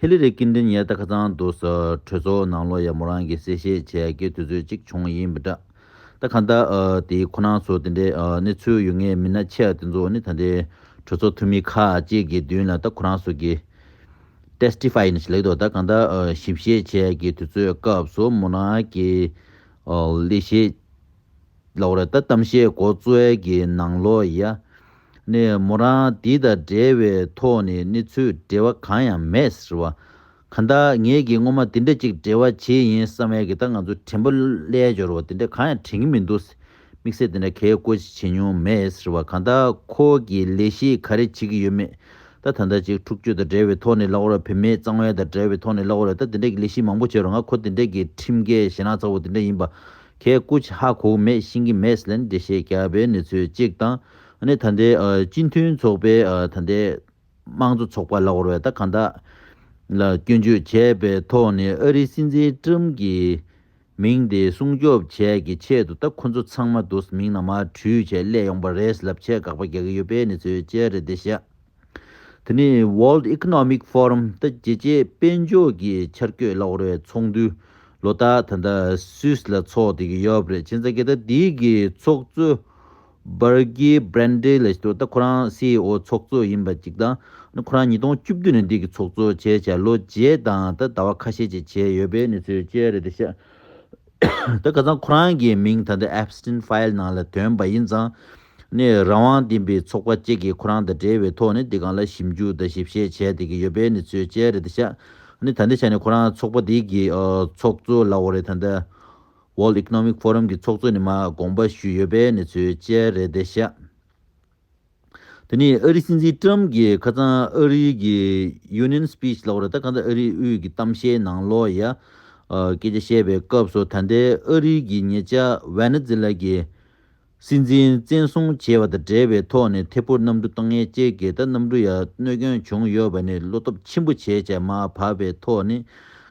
ཧི་ལི་རེ་སྐྱིད་འབྲིང་ཡལ་ད་ཁ་ཚང་བསྡུ་ས་གྲོས་ཚོགས་ནང་ལོ་ཡ་མོ་རང་གི་གསལ་བཤད་བྱས་དགེ་དུས་ཚོད་ཅིག་བྱུང་ཡིན་མི་འདྲ། ད་ག་ཟླ་དེའི་ཁོ་ན་ཚོ་དེ་འདྲའི་གནས་ཚུལ་ཡོད་ངེས་མིན་ན་ཆེ་ཡ་དེ་ཚོ་ནི་ད་ལྟའི་གྲོས་ཚོགས་འཐུས་མི་ཁག་ཅིག་གི་མདུན་ལ་ད་ཁོ་རང་ཚོ་གི Testify ཡིན་ན་ཞིག་ལེགས་འདུག་ད་ག་ཟླ་ཞིབ་བཤད་བྱས་དགེ་དུས་ཚོད་སྐབས་སུ་མོ་རང་གི་ལས་བྱེད་ལོག་རེད་ད་གཏམ་བཤད་མགོ་བཙུགས་ཨེ་གི་ནང་ལོག་ཡ། ནས་མོ་རང་འདི་དང་འབྲེལ་བའི་ཐོག་ནས་གནས་ཚུལ་འབྲེལ་བ་གང་ཡང་མེད་ཟེར་བ། གང་ལྟར་ངེད་ཀྱིས་སྔོན་མ་འདི་འདྲ་ཅིག་འབྲེལ་བ་བྱེད་ཡིན་བསམ་མེད་ཀི་ད་ང་ཚོ་དྲན་པོ་ཀླད་འབྱོར་བ་འདི་འདྲ་གང་ཡང་དྲན་གི་མི་འདུག་དམིགས་བསལ་འདི་འདྲ་གས་བཀོད་ཅིག་བྱེད་མྱོང་མེད་ཟེར་བ་གང་ལྟར་ཁོ་གིས་ལས་གཞི་ག་རེ་བྱེད་ཀྱི་ཡོད་མེད་ད་ད་ལྟ་ཅིག་འཁྲུག་རྩོད་དང་འབྲེལ་བའི་ཐོག་ནས་ལོག་རེད་བུད་མེད་གཙང་བའི་དང་འབྲེལ་བའི་ཐོག་ནས་ལོག་རེད་ད་འདི་འདྲ་གི་ལས་གཞི་མང་པོ་བྱས་རུང་ང་ཁོ་འདི་འདྲ་གི་ཁྲིམས་འགལ་ཞེ་ནག་ཚ་བོ་འདི་འདྲ་ཡིན་པ་ཁའི་སྐུ་ཆེ་ཧ་གོ་མེད་ཤིང་གི་མེས་ལན་འདྲེ་ཞེས་བྱ་བའི་ནི་ཚོད་གཅིག་དང། ནི་ད་ལྟའི་སྤྱི་མཐུན་ཚོགས་པའི་ད་ལྟའི་དམངས་གཙོ་ཚོགས་པ་ལ་བོར་བའི་ད་ག་ད་ལ་སྐྱོན་བརྗོད་བྱས་པའི་ཐོག་ནས་ཨ་རིའི་སྲིད་འཛིན་ཀྲུམ་གྱི་མིང་དེ་སྲུང་སྐྱོབ་བྱས་ཀྱི་ཆེད་དུ་ད་ཁོ་ཚོ་ཚང་མ་དུ་མིང་ནང་མ་བྲུས་བྱས་སླད་ཡོང་པ་རེད་ལབ་བྱས་དགག་པ་རྒྱག་གི་ཡོད་པའི་ནི་ཚོད་ཅེ་རེད་དེ་ཤ། དེ་ནི World Economic Forum ལྟ་རྒྱལ་སྤྱིའི་དཔལ་འབྱོར་གྱི་འཆར་བཀོད་གླ་བོར་བའི་ཚོགས་འདུ་ལོ་ལྟར་ད་ལྟ Swiss ལ་འཚོགས་བསྡད་ཀྱི་ཡོད་པ་རེད་ཕྱིན་ཙང་གི་ཟླ་འདིའི་གི་ཚོགས་གཙོ Burgi Brende ལས་ད་ལྟ་ཁོ་རང CEO ཚོགས་གཙོ་ཡིན་པ་ཅིག་དང་ཁོ་རང་ཉིས་སྟོང་བཅུ་བདུན་ནས་འདི་གི་ཚོགས་གཙོ་བྱས་བྱས་ལོ་བརྒྱད་དང་ད་ཟླ་བ་ཁ་ཤས་ཅིག་བྱས་ཡོད་པའི་གནས་ཚུལ་བཅས་རེད་འདུག་ཤག་ད་ག་ཚང་ཁོ་རང་གི་མིང་ད་ལྟ Epstein File ནང་ལ་དོན་པ་ཡིན་ཙང་ནས་རང་དབང་ལྡན་པའི་ཚོགས་པ་བཅས་ཀྱིས་ཁོ་རང་དང་འབྲེལ་བའི་ཐོག་ནས་འདི་གང་ལ་ཞིབ་འཇུག་དང་ཞིབ་བཤེར་བྱས་ཏེ་ཀྱི་ཡོད་པའི་ནི་ཚོད་དཔྱད་རེད་ཤག་ནི་ད་ནི་ཆ་ནས་ཁོ་རང་ཚོགས་པ་དེ་ཀྱི་ཚོགས་གཙོ་ལ་འོ་རེད་ད་ནི World Economic Forum ཀྱི་ཚོགས་གཙོ་ནི་མ་དགོངས་པ་ཞུས་ཡོད་པའི་ནི་ཚོད་དཔྱད་རེད་ཤག་དེ་ནི་ཨ་རི་སྲིད་འཛིན Trump ཀྱི་ཁ་ཚང་ཨ་རི་ཀྱི Union Speech ལ་འོ་རེད་ད་གང་ལྟར་ཨ་རིའི་དབུས་ཀྱི་གཏམ་བཤད་ནང་ལོ་ཡ་སྐད་ཆ་བཤད་པའི་སྐབས་སུ་ད་ལྟའི་ཨ་རི་ཀྱི་ཉེ་ཆ Venezuela ཀྱི་སྲིད་འཛིན་བཙན་བཟུང་བྱས་པ་དང་འབྲེལ་བའི་ཐོག་ནས་ཐེ་ཕུར་གནམ་གྲུ་དང་ངལ་ཅལ་གྱི་ད་གནམ་གྲུ་ཡར་གནོད་སྐྱོན་བྱུང་ཡོད་པ་ནི་བློ་སྟོབས་ཆེན་པོ་བྱས་བྱས་མ་བབས་པའི་ཐོག་ནས་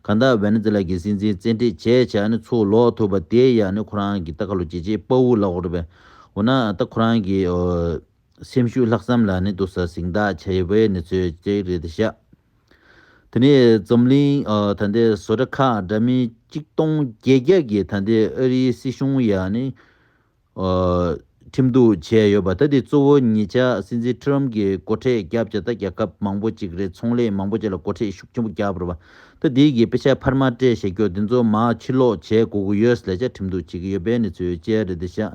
གང་དག་ཝེ་ནེ་ཛེ་ལཱ་གྱི་སྲིད་འཛིན་བཙན་ཁྲིད་བྱས་བྱས་ནས་ཚུར་ལོག་ཐུབ་པ་དེ་ཡང་ནི་ཁོ་རང་གི་ད་ག་ལོ་རྗེས་བྱེད་དཔའ་བོ་ལགས་རེད་པས་འོ་ན་ད་ཁོ་རང་གིས་སེམས་ཤུགས་ལྷག་བསམ་ལ་ནི་དུ་ས་ཟིང་དག་ཆ་ཡོད་པའི་ནི་ཚོད་ཅིག་རེད་དེ་ཤག། དེ་ནས་འཛམ་གླིང་ད་ལྟའི་བཟོ་གྲ་ཁག་འདྲ་མིན་གཅིག་སྟོང་བརྒྱད་བརྒྱ་གི་ད་ལྟའི་ཨ་རིའི་སྲིད་གཞུང་ཡ་ནི་ཁྲིམས་གཏུགས་བྱས་ཡོད་པ་ད་དེ་གཙོ་བོ་ཉེ་ཆར་སྲིད་འཛིན་ཁྲི་རམ་གྱི་སྒོ་ཁྲེགས་རྒྱབ་བྱས་ད་རྒྱ་ཁབ་མང་པོ་ཅིག་རེད་ཚོང་ལས་མང་པོ་ཅིག་ལ་སྒོ་ཁྲེགས་ཤུགས་ཆེན་པོ་རྒྱབ་རོ་ད་དེ་གི་དཔེ་ཆ་ཕར་མ་སྤྲད་བཤད་རྒྱོ་དེ་ཚོ་མ་ཕྱིར་ལོག་བྱས་དགོ་གི་ཡོད་ལས་ཆ་ཁྲིམས་གཏུགས་བྱེད་ཀྱི་ཡོད་པའི་ནི་ཚོད་ཅིག་རེད་དེ་ཤག་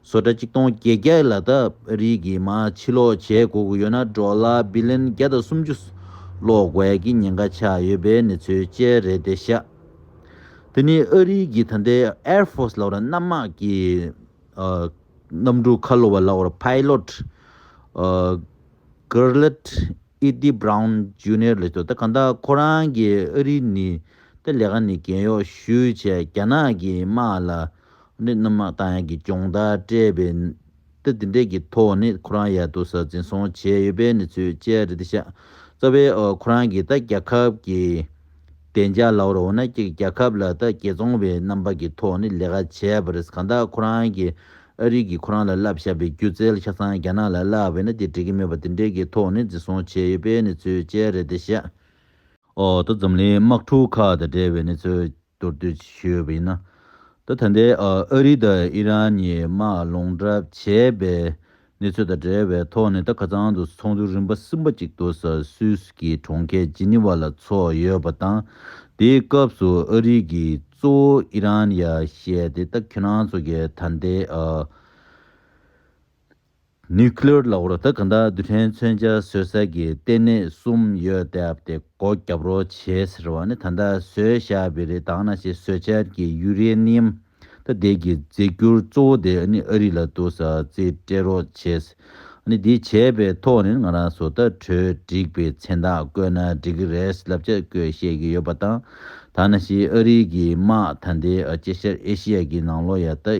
བཟོ་གྲྭ་གཅིག་སྟོང་བརྒྱད་བརྒྱ་ལ་ད་རིས་ཀྱི་མ་ཕྱི་ལོག་བྱེད་དགོས་ཀྱི་ཡོད་ན་འབྲོག་གླ་སྦི་ལན་བརྒྱ་དང་སུམ་ཅུ་ལོག་དགོས་ཀྱི་ཉེན་ཁ་ཆགས་ཡོད་པའི་གནས་ཚུལ་བཅས་རེད་དེ་ཤ་དེ་ནི་ཨ་རིས་ཀྱི་ད་ལྟའི Air Force ལག་རྣམ་དམག་གི་གནམ་གྲུ་ཁ་ལོ་བ་ལག་བར Pilot Gurlitt Eddy Brown Junior ལས་བཟོ་ད་གང་ལྟར་ཁོ་རང་གིས་ཨ་རིས་ནི་ད་ལས་ཀ་ནི་གན་གཡོག་ཞུས་བྱས་རྒྱ་ནག་གི་དམག་ལ་ནི་རྣམ་སྣང་དང་ཡན་གྱི་སྐྱོང་བརྡར་སྤྲད་པས་ན། དེ་འདི་འདྲས་ཀྱི་ཐོག་ནས་ཁོ་རང་ཡར་དུ་ས་འཛིན་སོང་བྱས་ཡོད་པའི་གནས་ཚུལ་བཅས་རེད་དེ། ཤ་ཚ་བས་ཁོ་རང་གིས་ད་རྒྱལ་ཁབ་ཀྱི་བདེ་འཇགས་ལ་བོར་བ་ན་ཀྱེ་རྒྱལ་ཁབ་ལ་ད་རྒྱལ་བཙོང་བའི་རྣམ་པ་ཀྱི་ཐོག་ནས་ལས་ཀ་བྱས་པ་རེད་གང་དག་ཁོ་རང་གིས་ཨ་རིག་གིས་ཁོ་རང་ལ་བསླབ་བཞག་པའི་སྒྱུ་རྩལ་ཆ་ཚང་རྒྱ་ནག་ལ་བསླབས་པས་ན་དེ་འགྲིག་གི་མེད་པ་འདི་འདྲས་ཀྱི་ཐོག་ནས་འཛིན་སོང་བྱས་ཡོད་པའི་གནས་ཚུལ་བཅས་རེད་དེ། ཤ་འོག་ཏུ་འཛམ་གླིང་དམག་འཁྲུག་ཁག་དང་འབྲེལ་བའི་གནས་ཚུལ་མདོར་བསྡུས་ཞུས་པ་ཡིན་ན། ད་ཐེངས་ཨ་རི་དང་ཨི་རན་གཉིས་དམག་ལོངས་གྲབས་བྱས་པའི་གནས་ཚུལ་དང་འབྲེལ་བའི་ཐོག་ནས་ད་ཁ་ཚང་དུ་ཚོགས་འདུ་རིམ་པ་གསུམ་པ་གཅིག་ཏུ་ས་སུད་ཀྱི་གྲོང་ཁྱེར་ཇི་ནི་ཝ་ལ་ཚོགས་ཡོད་པ་དང། དེའི་སྐབས་སུ་ཨ་རི་གིས་གཙོ་བོ་ཨི་རན་ཡར་བཤད་དེ་ད་ཁྱེད་རང་ཚོ་གིས་ད་ལྟའི་ཨ Nuclear ལ་ཧུར་ཐག་གང་དག་རྡུལ་ཕྲན་མཚོན་ཆ་བཟོས་ས་ཀྱི་ལྟེ་གནས་གསུམ་ཡོད་སྟབས་དེ་སྒོ་བརྒྱབ་རོགས་བྱེད་ཟེར་བ་ནི་ད་ལྟ་བཟོས་ཤ་བི་རི་དང་ན་ཆེ་བཟོས་ཆར་གྱི་ཡུ་རེ་ནི་ཡམ་ཐ་དད་ཀྱི་རྫས་འགྱུར་གཙོ་བོ་དེ་ནི་ཨ་རི་ལ་དུ་ས་རྩིས་སྤྲད་རོགས་བྱེད་ནི་དེ་བྱས་པའི་ཐོག་ནས་ང་རང་བཟོ་ལྟ་གྲོལ་འགྲིག་པའི་མཚན་རྟགས་བཀོད་ན་འགྲིག་གི་རེད་ལབ་བྱ་བཀོད་བཤད་ཀྱི་ཡོད་པ་དང་ད་ན་ཤི་ཨ་རི་གི་དམག་ཐ་དད་ཨ་ཅེ་ཤར་ཨེ་ཤི་ཡ་གི་ནང་ལོ་ཡ་ལྟ་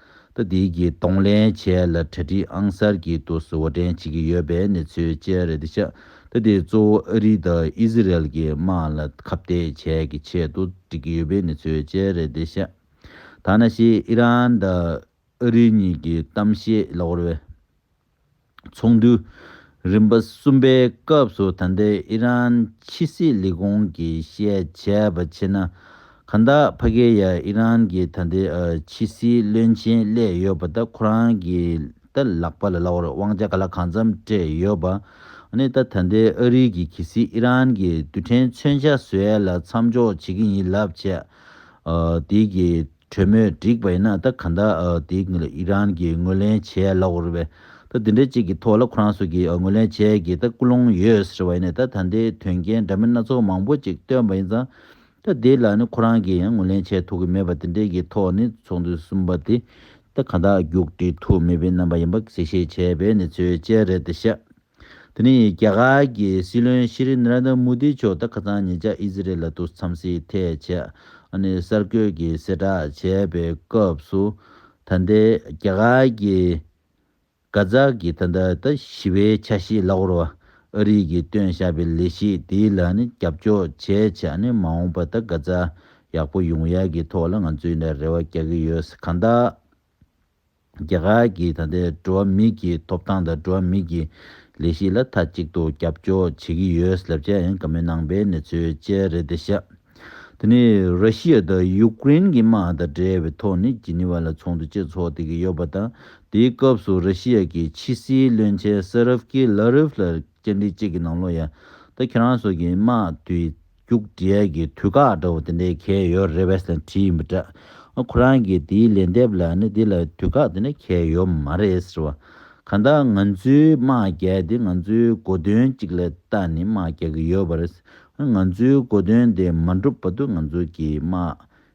ལྟ་དེའི་གྱི་གཏོང་ལེན་བྱས་ལ་གྲ་སྒྲིག་ཨང་གསར་གྱི་ཏུ་སུ་བོ་འདྲེན་བྱེད་ཀྱི་ཡོད་པའི་གནས་ཚུལ་བཅས་རེ་ལྡེ་ཆགས་ལྟ་དེ་གཙོ་བོ་ཨ་རི་དང་ཨི་ཟི་རལ་གྱི་དམག་ལ་ཁ་བཏད་བྱས་ཀྱི་ཆེད་དུ་སྒྲིག་གི་ཡོད་པའི་གནས་ཚུལ་བཅས་རེ་ལྡེ་ཆགས་ད་ན་ཤི་ཨི་རན་དང་ཨ་རི་གཉིས་ཀྱི་གཏམ་བཤད་ལོག་རེ་བས། ཚོགས་འདུ་རིམ་པ་གསུམ་པའི་སྐབས་སུ་ད་ལྟའི་ཨི་རན་ཕྱི་སྲིད་ལས་ཁུངས་ཀྱི་བཤད་བྱས་པ་ཕྱིན་ན། གྷན་དྷ་བྷ་གྷེ་ཡ་ཨི་རན་གྱི་ད་ལྟའི་ཕྱི་སྲིད་བློན་ཆེན་བསླེས་ཡོད་པ་ད་ཁོ་རང་གི་ད་ལག་པ་ལ་བླ་བོར་དབང་ཆ་ག་ལ་གང་འཚམ་སྤྲད་ཡོད་པ། ནི་ད་ད་ལྟའི་ཨ་རི་གྱི་གྷི་སི་ཨི་རན་གྱི་རྡུལ་ཕྲན་མཚོན་ཆ་ཟོས་ལ་མཚམས་འཇོག་བྱེད་ཀྱི་ཡིན་ལབ་བྱས། དེའི་གི་གྲོས་མོལ་འགྲིག་པ་ཡིན་ན་ད་ག་འདྲ་དེ་གཉིས་ལ་ཨི་རན་གྱིས་ངོས་ལེན་བྱས་ལོག་རེད་བས་ད་དེ་འདྲ་གཅིག་གི་ཐོག་ལ་ཁོ་རང་ཚོ་གིས་ངོས་ལེན་བྱས་གི་ད་སྐུ་ལུང་ཡོད་ཟེར་བ་ཡིན་ནས་ད་ད་འདི་དོན་རྐྱེན་འདྲ་མིན་སྣ་ཚོགས་མང་པོ་ཅིག་བཏོན་པ་ཡིན་ཙང་ད་དེ་ལ་ནི་ཁོ་རང་གིས་ཡང་ངོས་ལེན་བྱས་ཐུབ་གི་མེད་པ་དེ་འདྲའི་གི་ཐོག་ནས་ཚོགས་འདུ་གསུམ་པ་དེ་ད་ག་འདྲ་རྒྱུགས་འབྲི་ཐུབ་མེད་པའི་རྣམ་པ་ཡིན་པ་གསལ་བཤད་བྱས་པའི་གནས་ཚུལ་བཅས་རེད་ཤག། དེ་ནི་རྒྱ་གར་གྱི་སྲིད་བློན་ཤི་རི Narendra Modi མཆོག་ད་ཁ་སང་ཉེ་ཆར་ཨི་ཟི་རེལ་ལ་ཏུ་འཚམས་གཟིགས་ཐད་བྱས་གསར་འགོད་ཀྱི་གསལ་བསྒྲགས་བྱས་པའི་སྐབས་སུ་ད་ལྟའི་རྒྱ་གར་གྱི་གྷ་ཛ་གི་ད་ལྟ་ད་ཞི་བའི་ཆ་ཤས་ལ་ཧོར་བ་ཨ་རིག་གིས་བཏོན་བཞག་པའི་ལས་གཞི་དེ་ལ་རྒྱབ་སྐྱོར་བྱས་ཆ་མ་འོངས་པ་ད་གྷ་ཛ་ཡག་པོ་ཡོང་ཡག་གི་ཐོག་ལ་ང་ཚོས་རེ་བ་རྒྱག་གི་ཡོད་གང་ལྟ། རྒྱ་གར་གྱི་ད་ལྟའི་འགྲོ་བ་མི་གྱི་ཐོབ་ཐང་དང་འགྲོ་བ་མི་གྱི་ལས་གཞི་ལ་མཐའ་གཅིག་ཏུ་རྒྱབ་སྐྱོར་བྱེད་ཀྱི་ཡོད་སླབས་བྱས་ཡང་ག་མེད་ནང་པའི་གནས་ཚུལ་བཅས་རེད་དེ་ཤ་དེ་ནི་ར་ཤི་ཡ་དང་ཡུ་ཀེ་རེན་གྱི་དམག་དང་འབྲེལ་བའི་ཐོག་ནས་ཇི་ནི་བ་ལ་ཚོགས་འདུ་བཅས་འཚོགས་བསྡད་ཀྱི་ཡོད་པ་དང་དེའི་སྐབས་སུ་ར་ཤི་ཡ་གྱི་ཕྱི་སྲིད་བློན་ཆེན་སེ་རབ་ཀི་ལ་རིབ་ལ་སྐྱེལ་འདྲི་བཅས་ཀྱི་ནང་ལོ་ཡ་ད་ཁྱེད་རང་སོགས་ཀྱི་དམག་དུས་རྒྱུགས་འབྲས་ཀྱི་དུས་བཀག་འདྲ་བོ་དེ་འདྲའི་གལ་ཡོད་རེད་བས་ན་བྲིས་མི་དྲག་ཁོ་རང་གིས་དེའི་ལན་འདེབས་ལ་ནི་དེ་ལ་དུས་བཀག་དེ་འདྲ་གལ་ཡོད་མ་རེད་ཟེར་བ། གང་ལྟར་ང་ཚོའི་དམག་རྒྱལ་དེ་ང་ཚོའི་གོ་དོན་གཅིག་ལ་བལྟ་ནས་དམག་རྒྱག་གི་ཡོད་པ་རེད། ང་ཚོའི་གོ་དོན་དེ་མ་འགྲུབ་བར་དུ་ང་ཚོ་གི་དམག་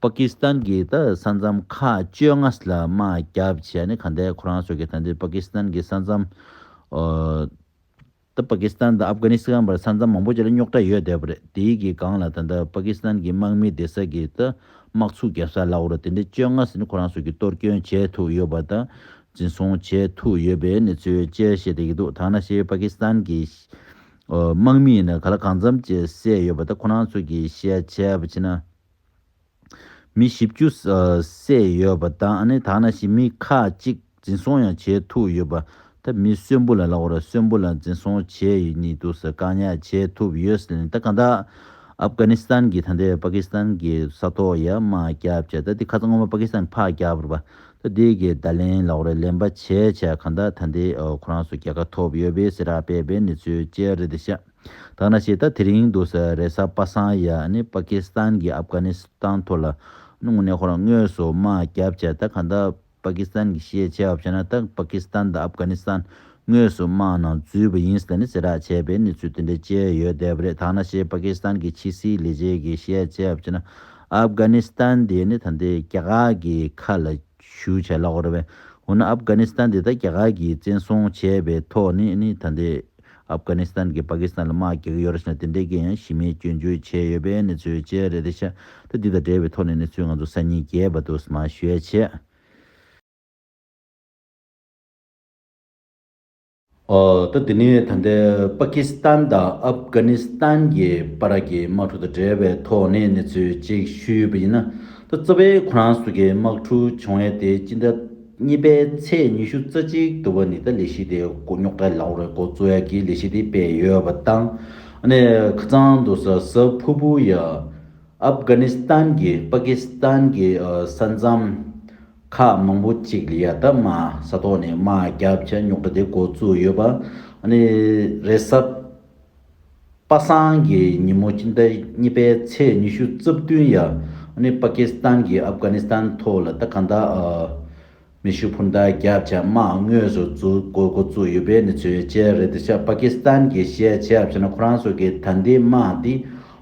པ་ཀི་སི་ཐན་གྱི་ད་ས་མཚམས་མཁའ་སྤྱོད་ལྔ་ལ་དམག་རྒྱག་བྱས་ནས་ག་འདའི་ཁོ་རང་ཚོ་གི་ད་འདིར་པ་ཀི་སི་ཐན་གྱི་ས་མཚམས་ད་པ་ཀི་སི་ཐན་དང་ཨབ་གྷ་ནི་སི་གྷན་བར་ས་མཚམས་མང་པོ་ཅིག་ལ་རྙོག་དྲ་ཡོད་བསྡད་པ་རེད་དེའི་གི་སྒང་ལ་ད་འདའི་པ་ཀི་སི་ཐན་གྱི་དམག་མི་དེ་ས་གི་ད་དམག་ཚུགས་རྒྱབ་ས་ལ་བོར་ད་འདི་སྤྱོད་ལྔ་ས་ནི་ཁོ་རང་ཚོ་གི་གཏོར་སྐྱོན་བྱས་ཐུག་ཡོད་པ་ད་འཛིན་བཟུང་བྱས་ཐུག་ཡོད་པའི་གནས་ཚུལ་བཅས་བཤད་བསྡད་ཀྱི་འདུག་ཐང་ན་ཤེས་པ་ཀི་སི་ཐན་གྱི་དམག་མི་ཡིན་ན་ག་ལ་གང་འཚམས་བཅས་བསད་ཡོད་པ་ད་ཁོ་རང་ཚོ་གི་བཤད་བྱས་པ་ཕྱིན་ན། མི་བཞི་བཅུ་བསད་ཡོད་པ་དང་ད་ང་ཞིག་མི་ཁག་གཅིག་འཛིན་བཟུང་ཡང་བྱས་ཐུབ་ཡོད་པ། ད་མི་གསོན་པོ་ལ་ལ་བོར་གསོན་པོ་ལ་འཛིན་བཟུང་བྱས་ཡོད་ནི་འདུག་ཟེར་བཀག་ཉར་བྱས་ཐུབ་ཡོད་ཟེར་ནས་ད་གང་དག་ཨབ་གྷ་ནི་སྟན་གྱི་ད་འདས་པ་ཀི་སི་ཐན་གྱི་ས་ཐོག་ཡ་མ་བརྒྱབ་བྱས་ད་དེ་ཁ་ཚ་སྔོན་མ་པ་ཀི་སི་ཐན་ཕག་བརྒྱ་བོར་བ་ད་དེ་གི་བརྡ་ལན་ལ་བོར་ལེན་པ་བྱས་བྱས་གང་དག་ད་འདས་ཁོ་རང་ཚོ་རྒྱལ་ཁ་ཐོབ་ཡོད་པའི་སེ་ར་པས་པའི་ནི་ཚོའི་དཔྱད་རེད་ཤག། ཐ་ན་ཆེས་ད་དེ་རིང་དུ་ས་རེ་ས་པ་སངས་ཡ་ནི་པ་ཀི་སི་ཐན་གྱི་ཨབ་གྷ་ནི་སི་ཐན་ཐོག་ལ་ནུང་ནེ་ཧོར་དངོས་སུ་དམག་རྒྱབ་བྱས་ད་ག་འདའ་པ་ཀི་སི་ཐན་གྱི་ཤེས་བྱས་བ་བྱས་ན་ད་པ་ཀི་སི་ཐན་དང་ཨབ་གྷ་ནི་སི་ཐན་དངོས་སུ་དམག་ནང་འཛུལ་བ་ཡིན་ཟེར་ནས་ཟེར་རག་བྱས་པའི་གནས་ཚུལ་དེ་འདྲའི་བཅས་ཡོད་བསྡད་པ་རེད་ཐ་ན་ཆེས་པ་ཀི་སི་ཐན་གྱི་ཕྱི་སྲིད་ལས་བྱེད་ཀྱི་ཤེས་བྱས་བ་བྱས་ན་ཨབ་གྷ་ནི་སི་ཐན་དེ་ནི་ད་ལྟའི་རྒྱ་གར་གྱི་ཁ་ལ། ཞུ་བྱས་ལགས་རེད་བས། འོ་ན་ཨབ་གྷ་ནི་སི་ཐན་འདི་ད་རྒྱ་གར་གྱིས་བཙན་བཟུང་བྱས་པའི་ཐོག་ནས་ནི་ད་འདི་ཨབ་གྷ་ནི་སི་ཐན་གྱིས་པ་ཀི་སི་ཐན་ལ་དམག་རྒྱག་གི་ཡོད་རེད་ཟེར་ན་དེ་འདྲའི་གི་ཡང་གཞི་མེད་སྐྱོན་བརྗོད་བྱས་ཡོད་པའི་གནས་ཚུལ་བཅས་རེད་དེ་ཤ་ཏི་འདི་དང་འབྲེལ་བའི་ཐོག་ནས་གནས་ཚུལ་ང་ཚོ་གསར་རྙིང་རྒྱས་པ་འདུག་མ་ཤོད་བྱས། ད་དེ་ནི་ད་ལྟའི་པ་ཀི་སི་ཐན་དང་ཨབ་གྷ་ནི་སི་ཐན་གྱི་བར་གྱི་དམག་འཁྲུག་དང་འབྲེལ་བའི་ཐོག་ནས་གནས་ཚུལ་གཅིག་ཞུས་ཡོད་པ་ཡིན་ན། ད་གཙོ་ཕལ་ཁོ་རང་སོགས་ཀྱི་དམག་འཁྲུག་བྱུང་བའི་དེའི་སྤྱི་ཟླ་གཉིས་པའི་ཚེས་ཉི་ཤུ་རྩ་གཅིག་ཏུ་བ་ནི་ད་ལས་གཞི་དེ་མགོ་རྙོག་གྲ་ལ་འོ་རེ་མགོ་གཙོ་ཡག་གིས་ལས་གཞི་དེ་སྤེལ་ཡོད་པ་དང། ནས་ཁ་ཚང་དུ་ས་ས་ཕུ་ཕུ་ཡ། ཨབ་གྷ་ནི་སི་ཐན་གྱིས་པ་ཀི་སི་ཐན་གྱི་ས་མཚམས། ཁག་མང་པོ་གཅིག་ལ་ཡ་ད་མ་ས་ཐོག་ནས་དམའ་རྒྱབ་ཀྱི་རྙོག་དྲ་དེ་འགོ་བཙུགས་ཡོད་པ། རེས་གཟའ་པ་སངས་གི་ཉིན་མོ་སྤྱི་ཟླ་གཉིས་པའི་ཚེས་ཉི་ཤུ་རྩ་བདུན་ཡ་པ་ཀི་སི་ཐན་གྱིས་ཨབ་གྷ་ནི་སི་ཐན་ཐོག་ལ་ད་ག་ད་མེ་ཤུ་འཕུར་མདའ་རྒྱབ་ཀྱི་དམག་དངོས་སུ་འཛུགས་དགོས་འགོ་བཙུགས་ཡོད་པའི་གནས་ཚུལ་བཅས་རེད་དེ་ཆབ་པ་ཀི་སི་ཐན་གྱིས་བཤད་ཆབ་བྱས་ན་ཁོ་རང་སོ་གི་ད་འདི་དམག་འདི་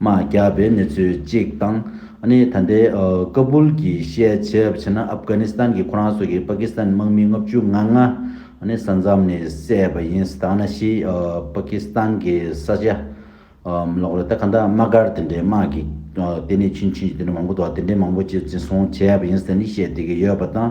མ་བརྒྱབ་པའི་གནས་ཚུལ་གཅིག་དང། ནི་ད་ལྟའི་ཀ་བུལ་གྱི་ཤེས་བྱེད་བྱས་ན་ཨབ་དཀར་ནི་སི་ཐན་གྱི་ཁོ་རང་སོགས་ཀྱི་པ་ཀི་སི་ཐན་དམག་མི་ལྔ་བཅུ་ང་ལྔ། ནི་ས་མཚམས་ནས་བསད་པ་ཡིན་སི་ཐ་ན་གཞི་པ་ཀི་སི་ཐན་གྱི་ས་ཆ། ལོག་རེད་ད་ག་འདྲ་དམག་སྒར་དེ་འདྲའི་དམག་གི་ལྟེ་གནས་ཆུ་འཕྱིས་ཀྱི་དེ་འདྲ་མང་པོ་འདུག་ད་དེ་འདྲའི་མང་པོ་ཅི་བྱས་སོང་བྱས་པ་ཡིན་སི་ཐན་ནི་བཤད་བསྡད་ཀྱི་ཡོད་པ་དང།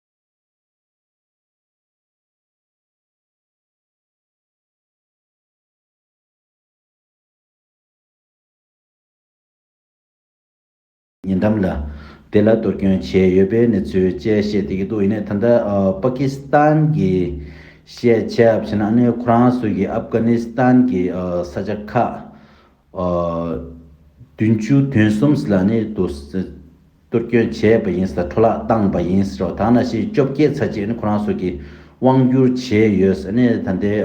ཉེ་འགྲམ་ལ་དེ་ལ་དུར་སྐྱོན་བྱས་ཡོད་པའི་གནས་ཚུལ་བཅས་བཤད་དེ་གི་འདུག་ཡིན་ནའི་ད་ལྟ་པ་ཀི་སི་ཐན་གྱི་ཤེས་བྱའི་བྱས་ན་ནི་ཁོ་རང་ཚོས་གི་ཨབ་གྷ་ནི་སི་ཐན་གྱི་ས་ཆ་ཁག་བདུན་ཅུ་དོན་གསུམ་ལ་ནི་དུ་གཏོར་སྐྱོན་བྱས་པ་ཡིན་ཟེར་འཕྲོ་བརླག་བཏང་བ་ཡིན་ཟེར་བ་དག་ན་ཞེ་བཅོ་བརྒྱད་ཚར་གཅིག་ནི་ཁོ་རང་སོགས་ཀྱིས་དབང་བསྒྱུར་བྱས་ཡོད་ཟེར་ནས་ད་ལྟའི་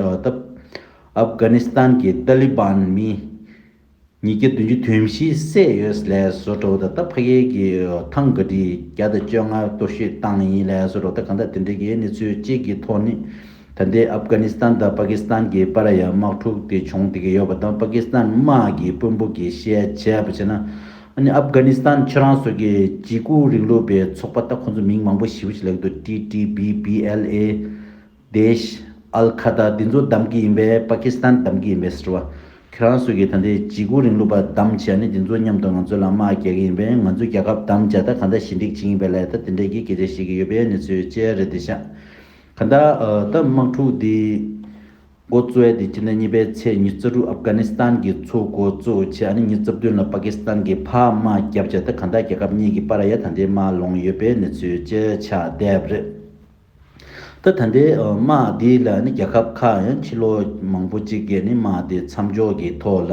ཨབ་གྷ་ནི་སི་ཐན་གྱི་ཏཱ་ལི་བན་མི་ཉིས་བརྒྱ་བདུན་ཅུ་དུས་བཞི་བསད་ཡོད་ཟེར་ལས་བཟོ་བྲོ་བོ་ད་ལྟ་ཕ་ཡུལ་གྱི་ཐང་ག་ཁྲི་བརྒྱ་དང་བཅོ་ལྔར་གཏོར་བཤིག་བཏང་ཡིན་ལས་བཟོ་བྲོ་བོ་ད་གང་ལྟར་དེ་འབྲེལ་གྱི་གནས་ཚུལ་གཅིག་གི་ཐོག་ནི་ད་ལྟའི་ཨབ་གྷ་ནི་སི་ཐན་དང་པ་ཀི་སི་ཐན་གྱི་པ་ར་ཡ་དམག་འཁྲུག་དེ་བྱུང་བསྡད་ཀྱི་ཡོད་པ་དང་པ་ཀི་སི་ཐན་དམག་གི་དཔོན་པོ་གྱིས་བཤད་བྱས་པ་བྱས་ན་ཨ་ཧྥ་གྷ་ནི་སི་ཐན་ཁྱེད་རང་སོགས་ཀྱི་གྱི་སྐུ་རིང་ལུགས་པའི་ཚོགས་པ་ལྟ་ཁོ་ཚོ་མིང་མང་པོ་ཞིབ་ཅིག་ལེགས་འདུག TTP BLA Daish Al Qaeda འདི་ཚོ་བདམས་ཀྱི་ཡིན་པས་པ་ཀི་སི་ཐན་བདམས་ཀྱི་ཡིན་པས་སི་ཏྲ་བ་ཁྱེད་རང་སོགས་ཀྱི་ད་ལྟའི་གྱི་སྐུ་རིང་ལུགས་པ་བདམས་བྱས་ནས་འདི་ཚོ་མཉམ་དུ་ང་ཚོ་ལ་དམག་རྒྱག་གི་ཡིན་པས་ང་ཚོ་རྒྱལ་ཁབ་བདམས་བྱས་ད་ག་འདྲ་ཞི་འགྲིག་བྱེད་ཀྱིན་པའི་ལས་ད་དེ་འདྲས་ཀྱི་སྐད་ཆ་བཤད་ཀྱི་ཡོད་པས་ནི་ཚོའི་དཔྱད་རེད་འདི་ཤག་ག་འདྲ་ད་དམག་འཁྲུག་འདི། འགོ་གཙོས་ཨ་དེ་ཁྱི་ལྡན་གཉིས་པའི་ཚེས་ཉི་རྩ་དྲུག་ཨབ་གྷ་ནི་སི་ཐན་གྱི་ཚོགས་འགོ་གཙོ་བྱས་ཨ་ནི་ཉི་རྩ་བདུན་ལ་པ་ཀི་སི་ཐན་གྱི་ཕ་མ་བརྒྱབ་བྱས་ད་ག་ད་རྒྱལ་ཁབ་གཉིས་ཀྱི་པ་ར་ཡ་ད་ལྟའི་དམག་ལོངས་ཡོད་པའི་གནས་ཚུལ་བཅས་ཆགས་བསྡད་རེད་ད་ད་ལྟའི་དམག་དེ་ལ་ནི་རྒྱལ་ཁབ་ཁག་ཡང་ཁྱི་ལོ་མང་པོ་གཅིག་གི་ནི་དམག་དེ་མཚམས་འཇོག་གི་ཐོག་ལ།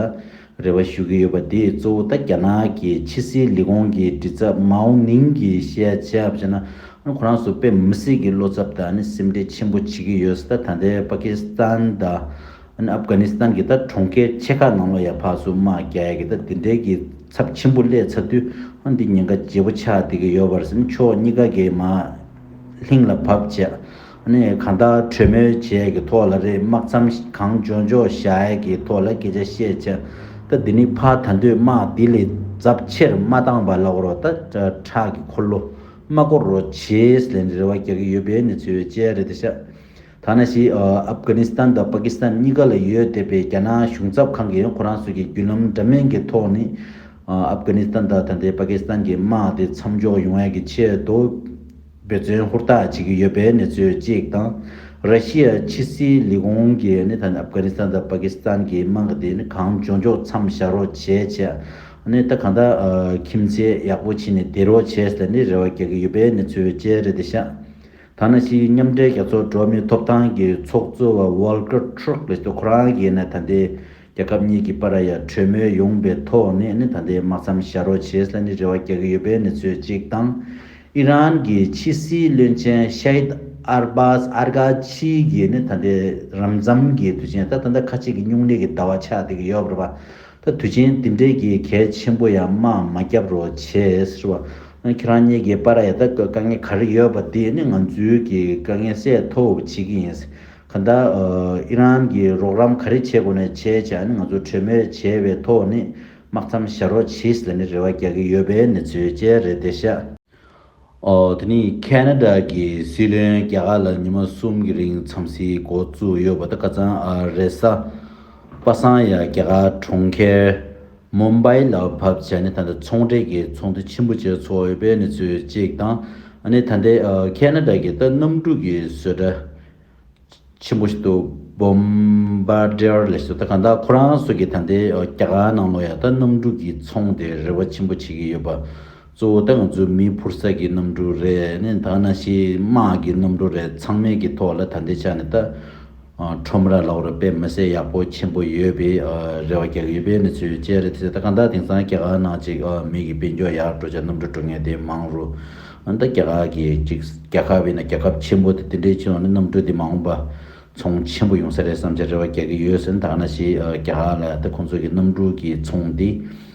རེ་བ་ཞུ་གི་ཡོད་པ་འདིས་གཙོ་བོ་ད་རྒྱ་ནག་གི་ཕྱི་སྲིད་ལས་ཁུངས་ཀྱི་དྲི་ཚབ་མའོ་ནིང་གི་བཤད་བྱ་བྱས་ན་ཁོ་རང་སུ་དཔེ་མི་སྲིད་ཀྱི་བློ་ཚབ་དང་སེམས་ཁྲལ་ཆེན་པོ་བྱེད་ཀྱི་ཡོད་ད་ལྟའི་པ་ཀི་སི་ཐན་དང་ཨབ་གྷ་ནི་སི་ཐན་གྱི་ད་གྲོང་ཁྱེར་ཆེ་ཁག་ནང་ལོ་ཡ་ཕག་སུ་དམག་རྒྱག་ཡ་གི་ད་དེ་འདྲའི་གི་ཚབ་ཆེན་པོ་སླེ་ཚར་དུས་འདི་ཉེན་ཁ་བརྗེ་པོ་ཆགས་བསྡད་ཀྱི་ཡོད་པར་སེམས་ཕྱོགས་གཉིས་ཀ་གི་མ་ལྷིང་ལ་བབ་བྱས་ནས་གང་དག་གྲོས་མོལ་བྱས་ཀྱི་ཐོག་ལ་རེད་དམག་མཚམས་གང་འཇོག་འཇོག་བཞག་གི་ཐོག་ལ་སྐད་ཆ་བཤད་བྱ་ད་འདི་ནི་ཕ་ད་འདོད་དམག་འདི་ལས་ཛབ་ཆེར་མ་བཏང་བ་ལ་འོར་བ་ད་ཁྲག་གི་འཁོར་ལོ་མ་བསྐོར་རོ་བྱེས་ལན་རེ་རེ་བ་རྒྱག་གི་ཡོད་པའི་གནས་ཚུལ་བཅས་རེད་ད་ཤ་ཐ་ན་ཤི་ཨབ་གྷ་ནི་སྟན་དང་པ་ཀི་སི་ཐན་གཉིས་ཀ་ལ་ཡོད་བསྡད་པའི་རྒྱ་ནག་གཞུང་ཚབ་ཁང་གིས་ཁོ་རང་ཚོ་གི་བརྒྱུད་ལམ་འདྲ་མིན་གྱི་ཐོག་ནས་ཨབ་གྷ་ནི་སྟན་དང་ད་ལྟའི་པ་ཀི་སི་ཐན་གྱི་དམག་དེ་མཚམས་འཇོག་ཡོང་བའི་གི་ཆེད་དུ། འབད་བརྩོན་ཧུར་ཐག་བྱེད་ཀྱི་ཡོད་པའི་གནས་ཚུལ་གཅིག་དང། ར་ཤི་ཡ་ཕྱི་སྲིད་ལས་ཁུངས་ཀྱིས་ནི་ད་ནི་ཨབ་གྷ་ནིས་ཐན་དང་པ་ཀི་སི་ཐན་གྱི་དམག་སྡེ་ནི་གང་བྱུང་འཇོག་མཚམས་བཞག་རོགས་བྱེད་ཆེད་ནི་ད་གང་དག་ཁྱིམ་མཚེས་ཡག་པོ་བྱས་ནས་བསྡད་རོགས་བྱས་ལ་ནི་རེ་བ་རྒྱག་གི་ཡོད་པའི་གནས་ཚུལ་བཅས་རེད་དེ་ཤ་ཐ་ན་ཕྱིའི་མཉམ་འབྲེལ་རྒྱལ་ཚོགས་འགྲོ་མིའི་ཐོབ་ཐང་གི་ཚོགས་གཙོ་བ Volker Türk ལས་ཏོ་ཁོ་རང་གིས་ནི་ད་ལྟའི་རྒྱལ་ཁབ་གཉིས་ཀྱི་པ་ར་ཡ་གྲོས་མོལ་ཡོང་པའི་ཐོག་ནས་ནི་ད་ལྟའི་དམག་མཚམས་བཞག་རོགས་བྱས་ལ་ནི་རེ་བ་རྒྱག་གི་ཡོད་པའི་གནས་ཚུལ་གཅིག་དང། ཨི་རན་གྱི་ཕྱི་སྲིད་བློན་ཆེན Shaid Arbas Arghachi གྱིས་ནི་ད་ལྟའི་རབ་མཚམས་ཀྱི་དུས་ཆེན་ད་ད་ལྟ་ཁ་ཅིག་གིས་སྙུང་གླེགས་ཀྱི་ཟླ་བ་ཆགས་བསྡད་ཀྱི་ཡོད་པར་བ་ད་དུས་ཆེན་དེ་འབྲེལ་གྱི་གལ་ཆེན་པོ་ཡང་དམག་མ་བརྒྱབ་རོགས་བྱས་ཟེར་བ། ཁྱེད་རང་གཉིས་ཀྱི་པ་ར་ཡ་ད་དཀའ་ངལ་ག་རེ་ཡོད་པ་དེ་ནི་ང་ཚོའི་གི་དཀའ་ངལ་སེལ་ཐོབ་བྱེད་ཀྱི་ཡིན། ག་ད་ཨི་རན་གྱིས་རོགས་རམ་ག་རེ་བྱེད་དགོས་ནས་བྱས་བྱས་ནི་ང་ཚོ་གྲོས་མོལ་བྱས་པའི་ཐོག་ནས་དམག་མཚམས་བཞག་རོགས་བྱས་ལ་ནི་རེ་བ་རྒྱག་གི་ཡོད་པའི་གནས་ཚུལ་བཅས་རེད་བདེ་གཤེགས། ཨོ་དེ་ནི་ཁེ་ན་རྡ་གྱི་སྲིད་བློན་རྒྱ་གར་ལ་ཉི་མ་གསུམ་གྱི་རིང་མཚམས་བཞི་འགོ་བཙུགས་ཡོད་པ་ད་ག་ཚང་ཨ་རེ་ས་པ་སངས་ཡ་རྒྱ་གར་གྲོང་ཁྱེར་མུམ་སྦེ་ལ་བབས་ཚེ་ནི་ད་ལྟ་ཚོང་འབྲེལ་གྱི་ཚོགས་འདུ་ཆེན་པོ་བཅས་ཚོགས་ཡོད་པའི་གནས་ཚུལ་གཅིག་དང། ནི་ད་ལྟའི་ཁེ་ན་ཏྲ་གི་ཏཱ་གནམ་གྲུ་གི་བཟོས་གྲྭ་ཆེན་པོ་ཞིག་ཏུ་བུམ་སྦེ་ཏྲེར་ལས་བཟོས་ད་ག་འདྲ་ཁོ་རང་སོགས་ཀྱིས་ད་ལྟའི་རྒྱ་གར་ནང་ལོ་ཡ་ཏཱ་གནམ་གྲུ་གྱི་ཚོང་དེ་རེ་བ་ཆེན་པོ་བྱེད་ཀྱི་ཡོད་པ་གཙོ་བོ་ཏང་རྫུན་མའི་འཕུར་ས་ཀྱི་གནམ་གྲུ་རེད་ནས་ད་ནང་ཤི་དམག་གི་གནམ་གྲུ་རེད་ཚང་མའི་གི་ཐོག་ལ་ད་ལྟའི་ཆ་ནས་ད་ཁྲོམ་ར་ལག་རུ་པད་མི་བསད་ཡག་པོ་ཆེན་པོ་ཡོད་པའི་རེ་བ་རྒྱག་གི་པད་མི་ཚོས་བཅད་རེ་ཚེ་ད་གང་དག་དེང་སང་རྒྱ་གར་ནང་ཅིག་མིག་གི་པད་འགྱོག་ཡག་འགྲོ་ཆ་གནམ་གྲུ་འགྲོ་ངེས་དེ་མང་རུ་ཨ་ད་རྒྱ་གར་གི་ཅིག་རྒྱ་ཁབ་ཡིན་ན་རྒྱ་ཁབ་ཆེན་པོ་དེ་དེ་འདྲའི་ཆུ་ནང་ནས་གནམ་གྲུ་དེ་མ་འོངས་པ་ཚོང་ཆེན་པོ་ཡོང་ས་རེད་བསམ་ཆ་རེ་བ་རྒྱག་གི་ཡོད་ཟེར་ནས་ད་ནང་ཤི་རྒྱ་གར་ལ་ད་ཁོང་ཚོ་གི་གནམ་གྲུ་གི་ཚོང་དེ།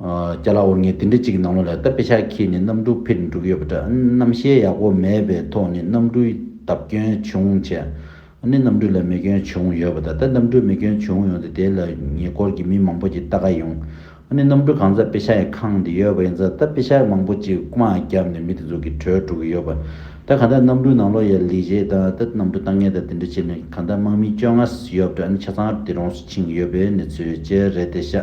རྒྱ་ལག་འུར་ངེས་དེ་འདྲ་ཅིག་ནང་ལོག་ལ་སྟབས་བདེ་ཆགས་ཁྱེད་ནི་གནམ་གྲུ་ཕིར་འགྲུག་ཡོད་པ་འདྲ་གནམ་ཞལ་ཡག་པོ་མེད་པའི་ཐོག་ནས་གནམ་གྲུའི་བརྡབ་སྐྱོན་བྱུང་བྱས་ནས་གནམ་གྲུ་ལ་མེ་སྐྱོན་བྱུང་ཡོད་པ་དང་ད་གནམ་གྲུ་མེ་སྐྱོན་བྱུང་ཡོང་སྟེ་དེ་ལ་ཉེ་འཁོར་གྱི་མི་མང་པོ་ཅིག་ལྟ་ག་ཡོང་ཨ་ནི་གནམ་གྲུ་གང་ས་དཔེ་ཤ་ཡི་ཁང་དེ་ཡོད་པ་ཡིན་ས་ད་དཔེ་ཤ་མང་པོ་ཅིག་དམག་བརྒྱབ་ནས་མི་དེ་ཚོ་གི་གྲོས་འགྲོ་གི་ཡོད་པ་ད་ག་ད་གནམ་གྲུ་ནང་ལོག་ཡ་ལི་བྱས་དང་ད་གནམ་གྲུ་བཏང་ངེས་དང་དེ་འདྲ་བྱས་ནས་ག་ད་དམག་མི་བཅོ་ལྔ་ཡོད་པ་འདྲ་ཨ་ནི་ཆ་ཚང་དེ་རོང་སུ་ཕྱིན་ཡོད་པའི་གནས་ཚུལ་བཅས་རེད་དེ་ཤ།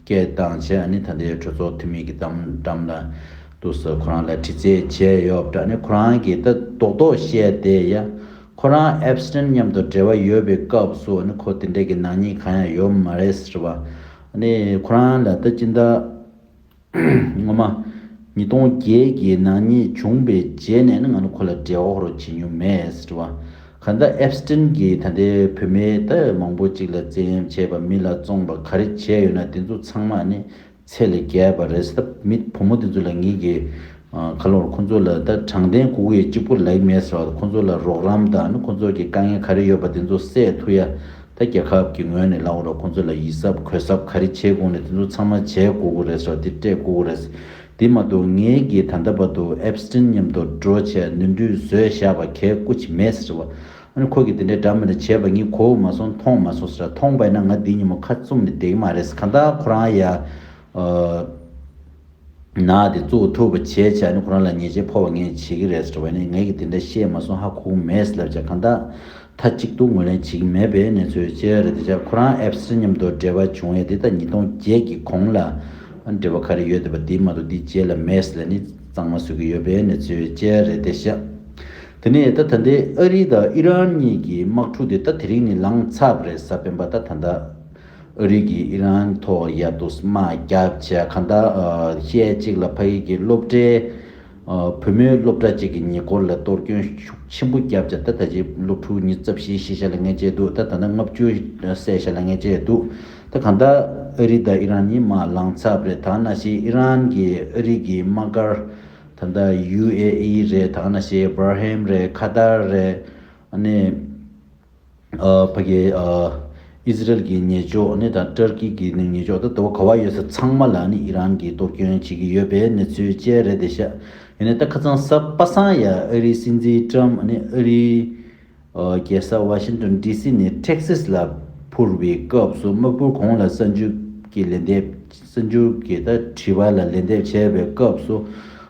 སྐད་གདངས་བྱས་ནས་ད་ལྟའི་གྲོས་ཚོགས་འཐུས་མི་གི་གཏམ་འགྲམ་ལ་འདུག་ས་ཁོ་རང་ལ་དྲི་རྩད་བྱས་ཡོད་དྲག་ནས་ཁོ་རང་གིས་ད་རྡོག་རྡོག་བཤད་བསྡད་ཡ། ཁོ་རང Epstein མཉམ་དུ་འབྲེལ་བ་ཡོད་པའི་སྐབས་སུ་ཁོ་དེ་འདྲ་གི་ནག་ཉེས་གང་ཡང་ཡོད་མ་རེད་ཟེར་བ། ཁོ་རང་ལ་ད་ཅི་འདྲ། ངོ་མ། ཉིས་སྟོང་བརྒྱད་གི་ནག་ཉེས་བྱུང་པའི་རྗེས་ནས་ང་ནི་ཁོ་ལ་འབྲེལ་བ་ཧོར་བྱེད་མྱོང་མེད་ཟེར་བ། ག་འདི་ཨེབ་སི་ཏིན་གྱིས་ད་ལྟའི་བུད་མེད་དེ་མང་པོ་ཅིག་ལ་བཙན་གཡེམ་བྱས་པ་མི་ལ་བཙོངས་པ་ག་རེ་བྱས་ཡོད་ན་དེ་ཚོ་ཚང་མ་ནི་ཚད་ལས་བརྒལ་བ་རེད་སྟབས་མི་བུ་མོ་དེ་ཚོ་ལ་ངེད་ཀྱིས་ག་ལོར་ཁོ་ཚོ་ལ་ད་དྲང་བདེན་ལྐུགས་ཡོད་གཅིག་པུ་ལེགས་མེད་ཟེར་བ་ཁོ་ཚོ་ལ་རོགས་རམ་དང་ཁོ་ཚོ་གྱི་དཀའ་ངལ་ག་རེ་ཡོད་པ་དེ་ཚོ་སེ་ཐུ་ཡ་ད་རྒྱལ་ཁབ་ཀྱི་ངོས་ནས་ལ་འོ་རོགས་ཁོ་ཚོ་ལ་ཡིད་གཟབ་གོས་གཟབ་ག་རེ་བྱེད་དགོས་ན་དེ་ཚོ་ཚང་མ་བྱས་དགོས་གོ་རེད་ཟེར་བ་དེ་སྤྲད་དགོས་གོ་རེད། དེ་མ་གཏོགས་ངའི་གི་ད་ལྟ་བར་དུ་ཨེབ་སི་ཏིན་མཉམ་དུ་འགྲོ་ཆས་ནུས་འདུས་བཟོས་བཞག་པ་གས་སྐུ་ཆི་མེད་ཟེར་བ། ཨ་ཁོ་གི་དེ་འདྲའི་འདྲ་མི་རེ་བྱས་པ་ངས་གོ་མ་སོང་མཐོང་མ་སོང་ཟེར་ར་མཐོང་པས་ན་ང་འདི་ཉིན་མོ་ཁ་བཙུམ་ནས་བསྡད་གི་མ་རེད་གང་ལྟར་ཁོ་རང་ཡ་ན་དེ་བཙུགས་ཐུབ་པ་བྱས་ཆ་ནས་ཁོ་རང་ལ་ཉེས་ཆད་ཕོག་པ་ངས་བྱེད་གི་རེད་ཟེར་བས་ན་ངས་གི་དེ་འདྲ་བཤད་མ་སོང་ཧ་གོ་གི་མེད་ཟེར་ལབ་བྱ་གང་ལྟར་མཐའ་གཅིག་ཏུ་ངོས་ལེན་བྱེད་ཀྱི་མེད་པའི་གནས་ཚུལ་བཅས་རེད་དེ་ཆར་ཁོ་རང་ཨེབ་སི་མཉམ་དུ་འབྲེལ་བ་བྱུང་བའི་དེ་ད་ཉིས་སྟོང་བརྒྱད་ཀྱི་གོང་ལ་འབྲེལ་བ་ག་རེ་ཡོད་དེ་པ་དེའི་མ་གཏོགས་དེའི་རྗེས་ལ་མེས་ལ་ནི་གཙང་མ་བཟོས་ཀྱི་ཡོད་པའི་གནས་ཚུལ་བཅས་རེད་དེ་ཤ་དེ་ནས་ད་ད་འདི་ཨ་རི་དང་ཨི་རན་གཉིས་ཀྱི་དམག་འཁྲུག་དེ་ད་དེ་རིང་ནི་ལངས་ཚབ་རེད་ས་སྤེན་པ་ད་ད་ཨ་རི་གིས་ཨི་རན་ཐོག་ཡ་དུས་དམག་རྒྱབ་བྱས་ག་ད་ཤས་གཅིག་ལ་ཕ་ཡིག་གི་སློབ་གྲྭའི། བུ་མོའི་སློབ་གྲྭ་བཅས་ཀྱི་ཉེ་འཁོར་ལ་གཏོར་སྐྱོན་ཤུགས་ཆེན་པོ་བརྒྱབ་ཅིང་ད་ལྟ་ཆེས་སློབ་ཕྲུག་ཉིས་རྩ་བཞིའི་ཤེས་བྱ་ལ་ངན་བྱས་འདུག་ད་ད་ནི་ལྔ་བཅུ་ཟས་བྱ་ལ་ངན་བྱས་འདུག་ད་གང་ལྟར་ཨ་རི་དང་ཨི་རན་གཉིས་མ་ལངས་ཚར་རེད་ད་ནང་བཞིན་ཨི་རན་གྱིས་ཨ་རི་གྱི་དམག་སྒར་ད་ལྟ་ཡུ་ཨེ་ཨི་རེད་ད་ནང་བཞིན་སྦར་ཧེམ་རེད་ཁ་ཐར་རེད་ཨ་ནི། ཕ་གི་ཨི་ཟི་རལ་གྱི་ཉེ་ཕྱོགས་ནི་དང་ཏུར་ཀི་གི་ནི་ཉེ་ཕྱོགས་དང་དུ་བ་ག་བ་ཡོད་ས་ཚང་མ་ལ་ནི་ཨི་རན་གྱིས་གཏོར་སྐྱོན་བྱེད་ཀྱི་ཡོད་པའི་གནས་ཚུལ་བཅས་རེད་དེ་ཤ་ཡོད་ནི་ད་ཁ་ཚང་ས་པ་སངས་ཡ་ཨ་རིའི་སྲིད་འཛིན་ཀྲམ་ནི་ཨ་རིའི་རྒྱལ་ས་བྷ་ཤིན་ཏོན་ཏི་སི་ནས་ཏྲེག་སིས་ལ་འཕུར་བའི་སྐབས་སུ་དམག་འཕུར་གོང་ལ་ས་འཇུག་གི་ལན་འདེབས་སྲིད་འབྱོར་གྱི་ད་དྲི་བ་ལ་ལན་འདེབས་བྱས་པའི་སྐབས་སུ་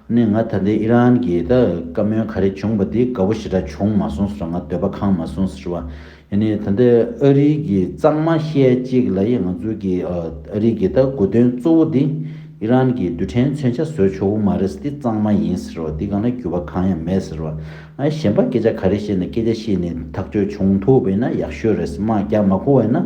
ནི་ང་ད་ལྟའི་ཨི་རན་གྱི་ད་བཀའ་མོལ་ག་རེ་བྱུང་བ་དེ་དགའ་བོ་ཞེ་དྲག་བྱུང་མ་གསུངས་ཟེར་བ་ང་འདོད་པ་གང་མ་གསུངས་ཟེར་བ་ཡིན་ནི་ད་ལྟའི་ཨ་རིའི་གྱི་གཙང་མ་ཤས་གཅིག་ལ་ཡི་ང་ཚོའི་གྱི་ཨ་རིའི་གྱི་ད་དགོས་དོན་གཙོ་བོ་དེ་ཨི་རན་གྱི་རྡུལ་ཕྲན་མཚོན་ཆ་བཟོས་ཆོག་གི་མ་རེད་ཟེར་དེ་གཙང་མ་ཡིན་ཟེར་བ་དེ་གང་ལ་འགྱུར་བ་གང་ཡང་མེད་ཟེར་བ་ང་གཞན་པ་སྐད་ཆ་ག་རེ་བཤད་ནས་སྐད་ཆ་བཤད་ནི་ཐག་གཅོད་བྱུང་ཐུབ་པ་ཡིན་ན་ཡག་ཤོས་རེད་ཟེར་མ་རྒྱག་མ་གོ་བ་ཡིན་ན་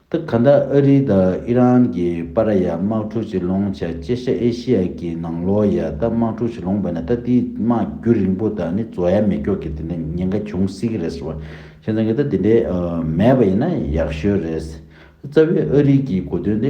ཏི་གྷ་ནྡ་ཨ་རི་དང་ཨི་རན་གྱི་པ་ར་ཡ་དམག་འཁྲུག་ཅེས་ལོང་བྱ་ཅེ་ཤ་ཨེ་ཤི་ཡ་གི་ནང་ལོ་ཡ་ཏ་དམག་འཁྲུག་ཅེས་ལོང་བས་ན་ཏཱ་ཏིའི་དམག་རྒྱུ་རིང་པོ་དང་ནི་ཛོ་ཡ་མེ་ཀྱོག་གི་དེ་འདྲའི་ཉེན་ཁ་འབྱུང་སྲིད་ཀྱི་རེད་ཟེར་བ་ཁྱེད་ཚང་གིས་ད་དེ་འདྲའི་མེད་པ་ཡིན་ན་ཡག་ཤོས་རེད། རྩ་བའི་ཨ་རི་གྱི་གོ་དོན་དེ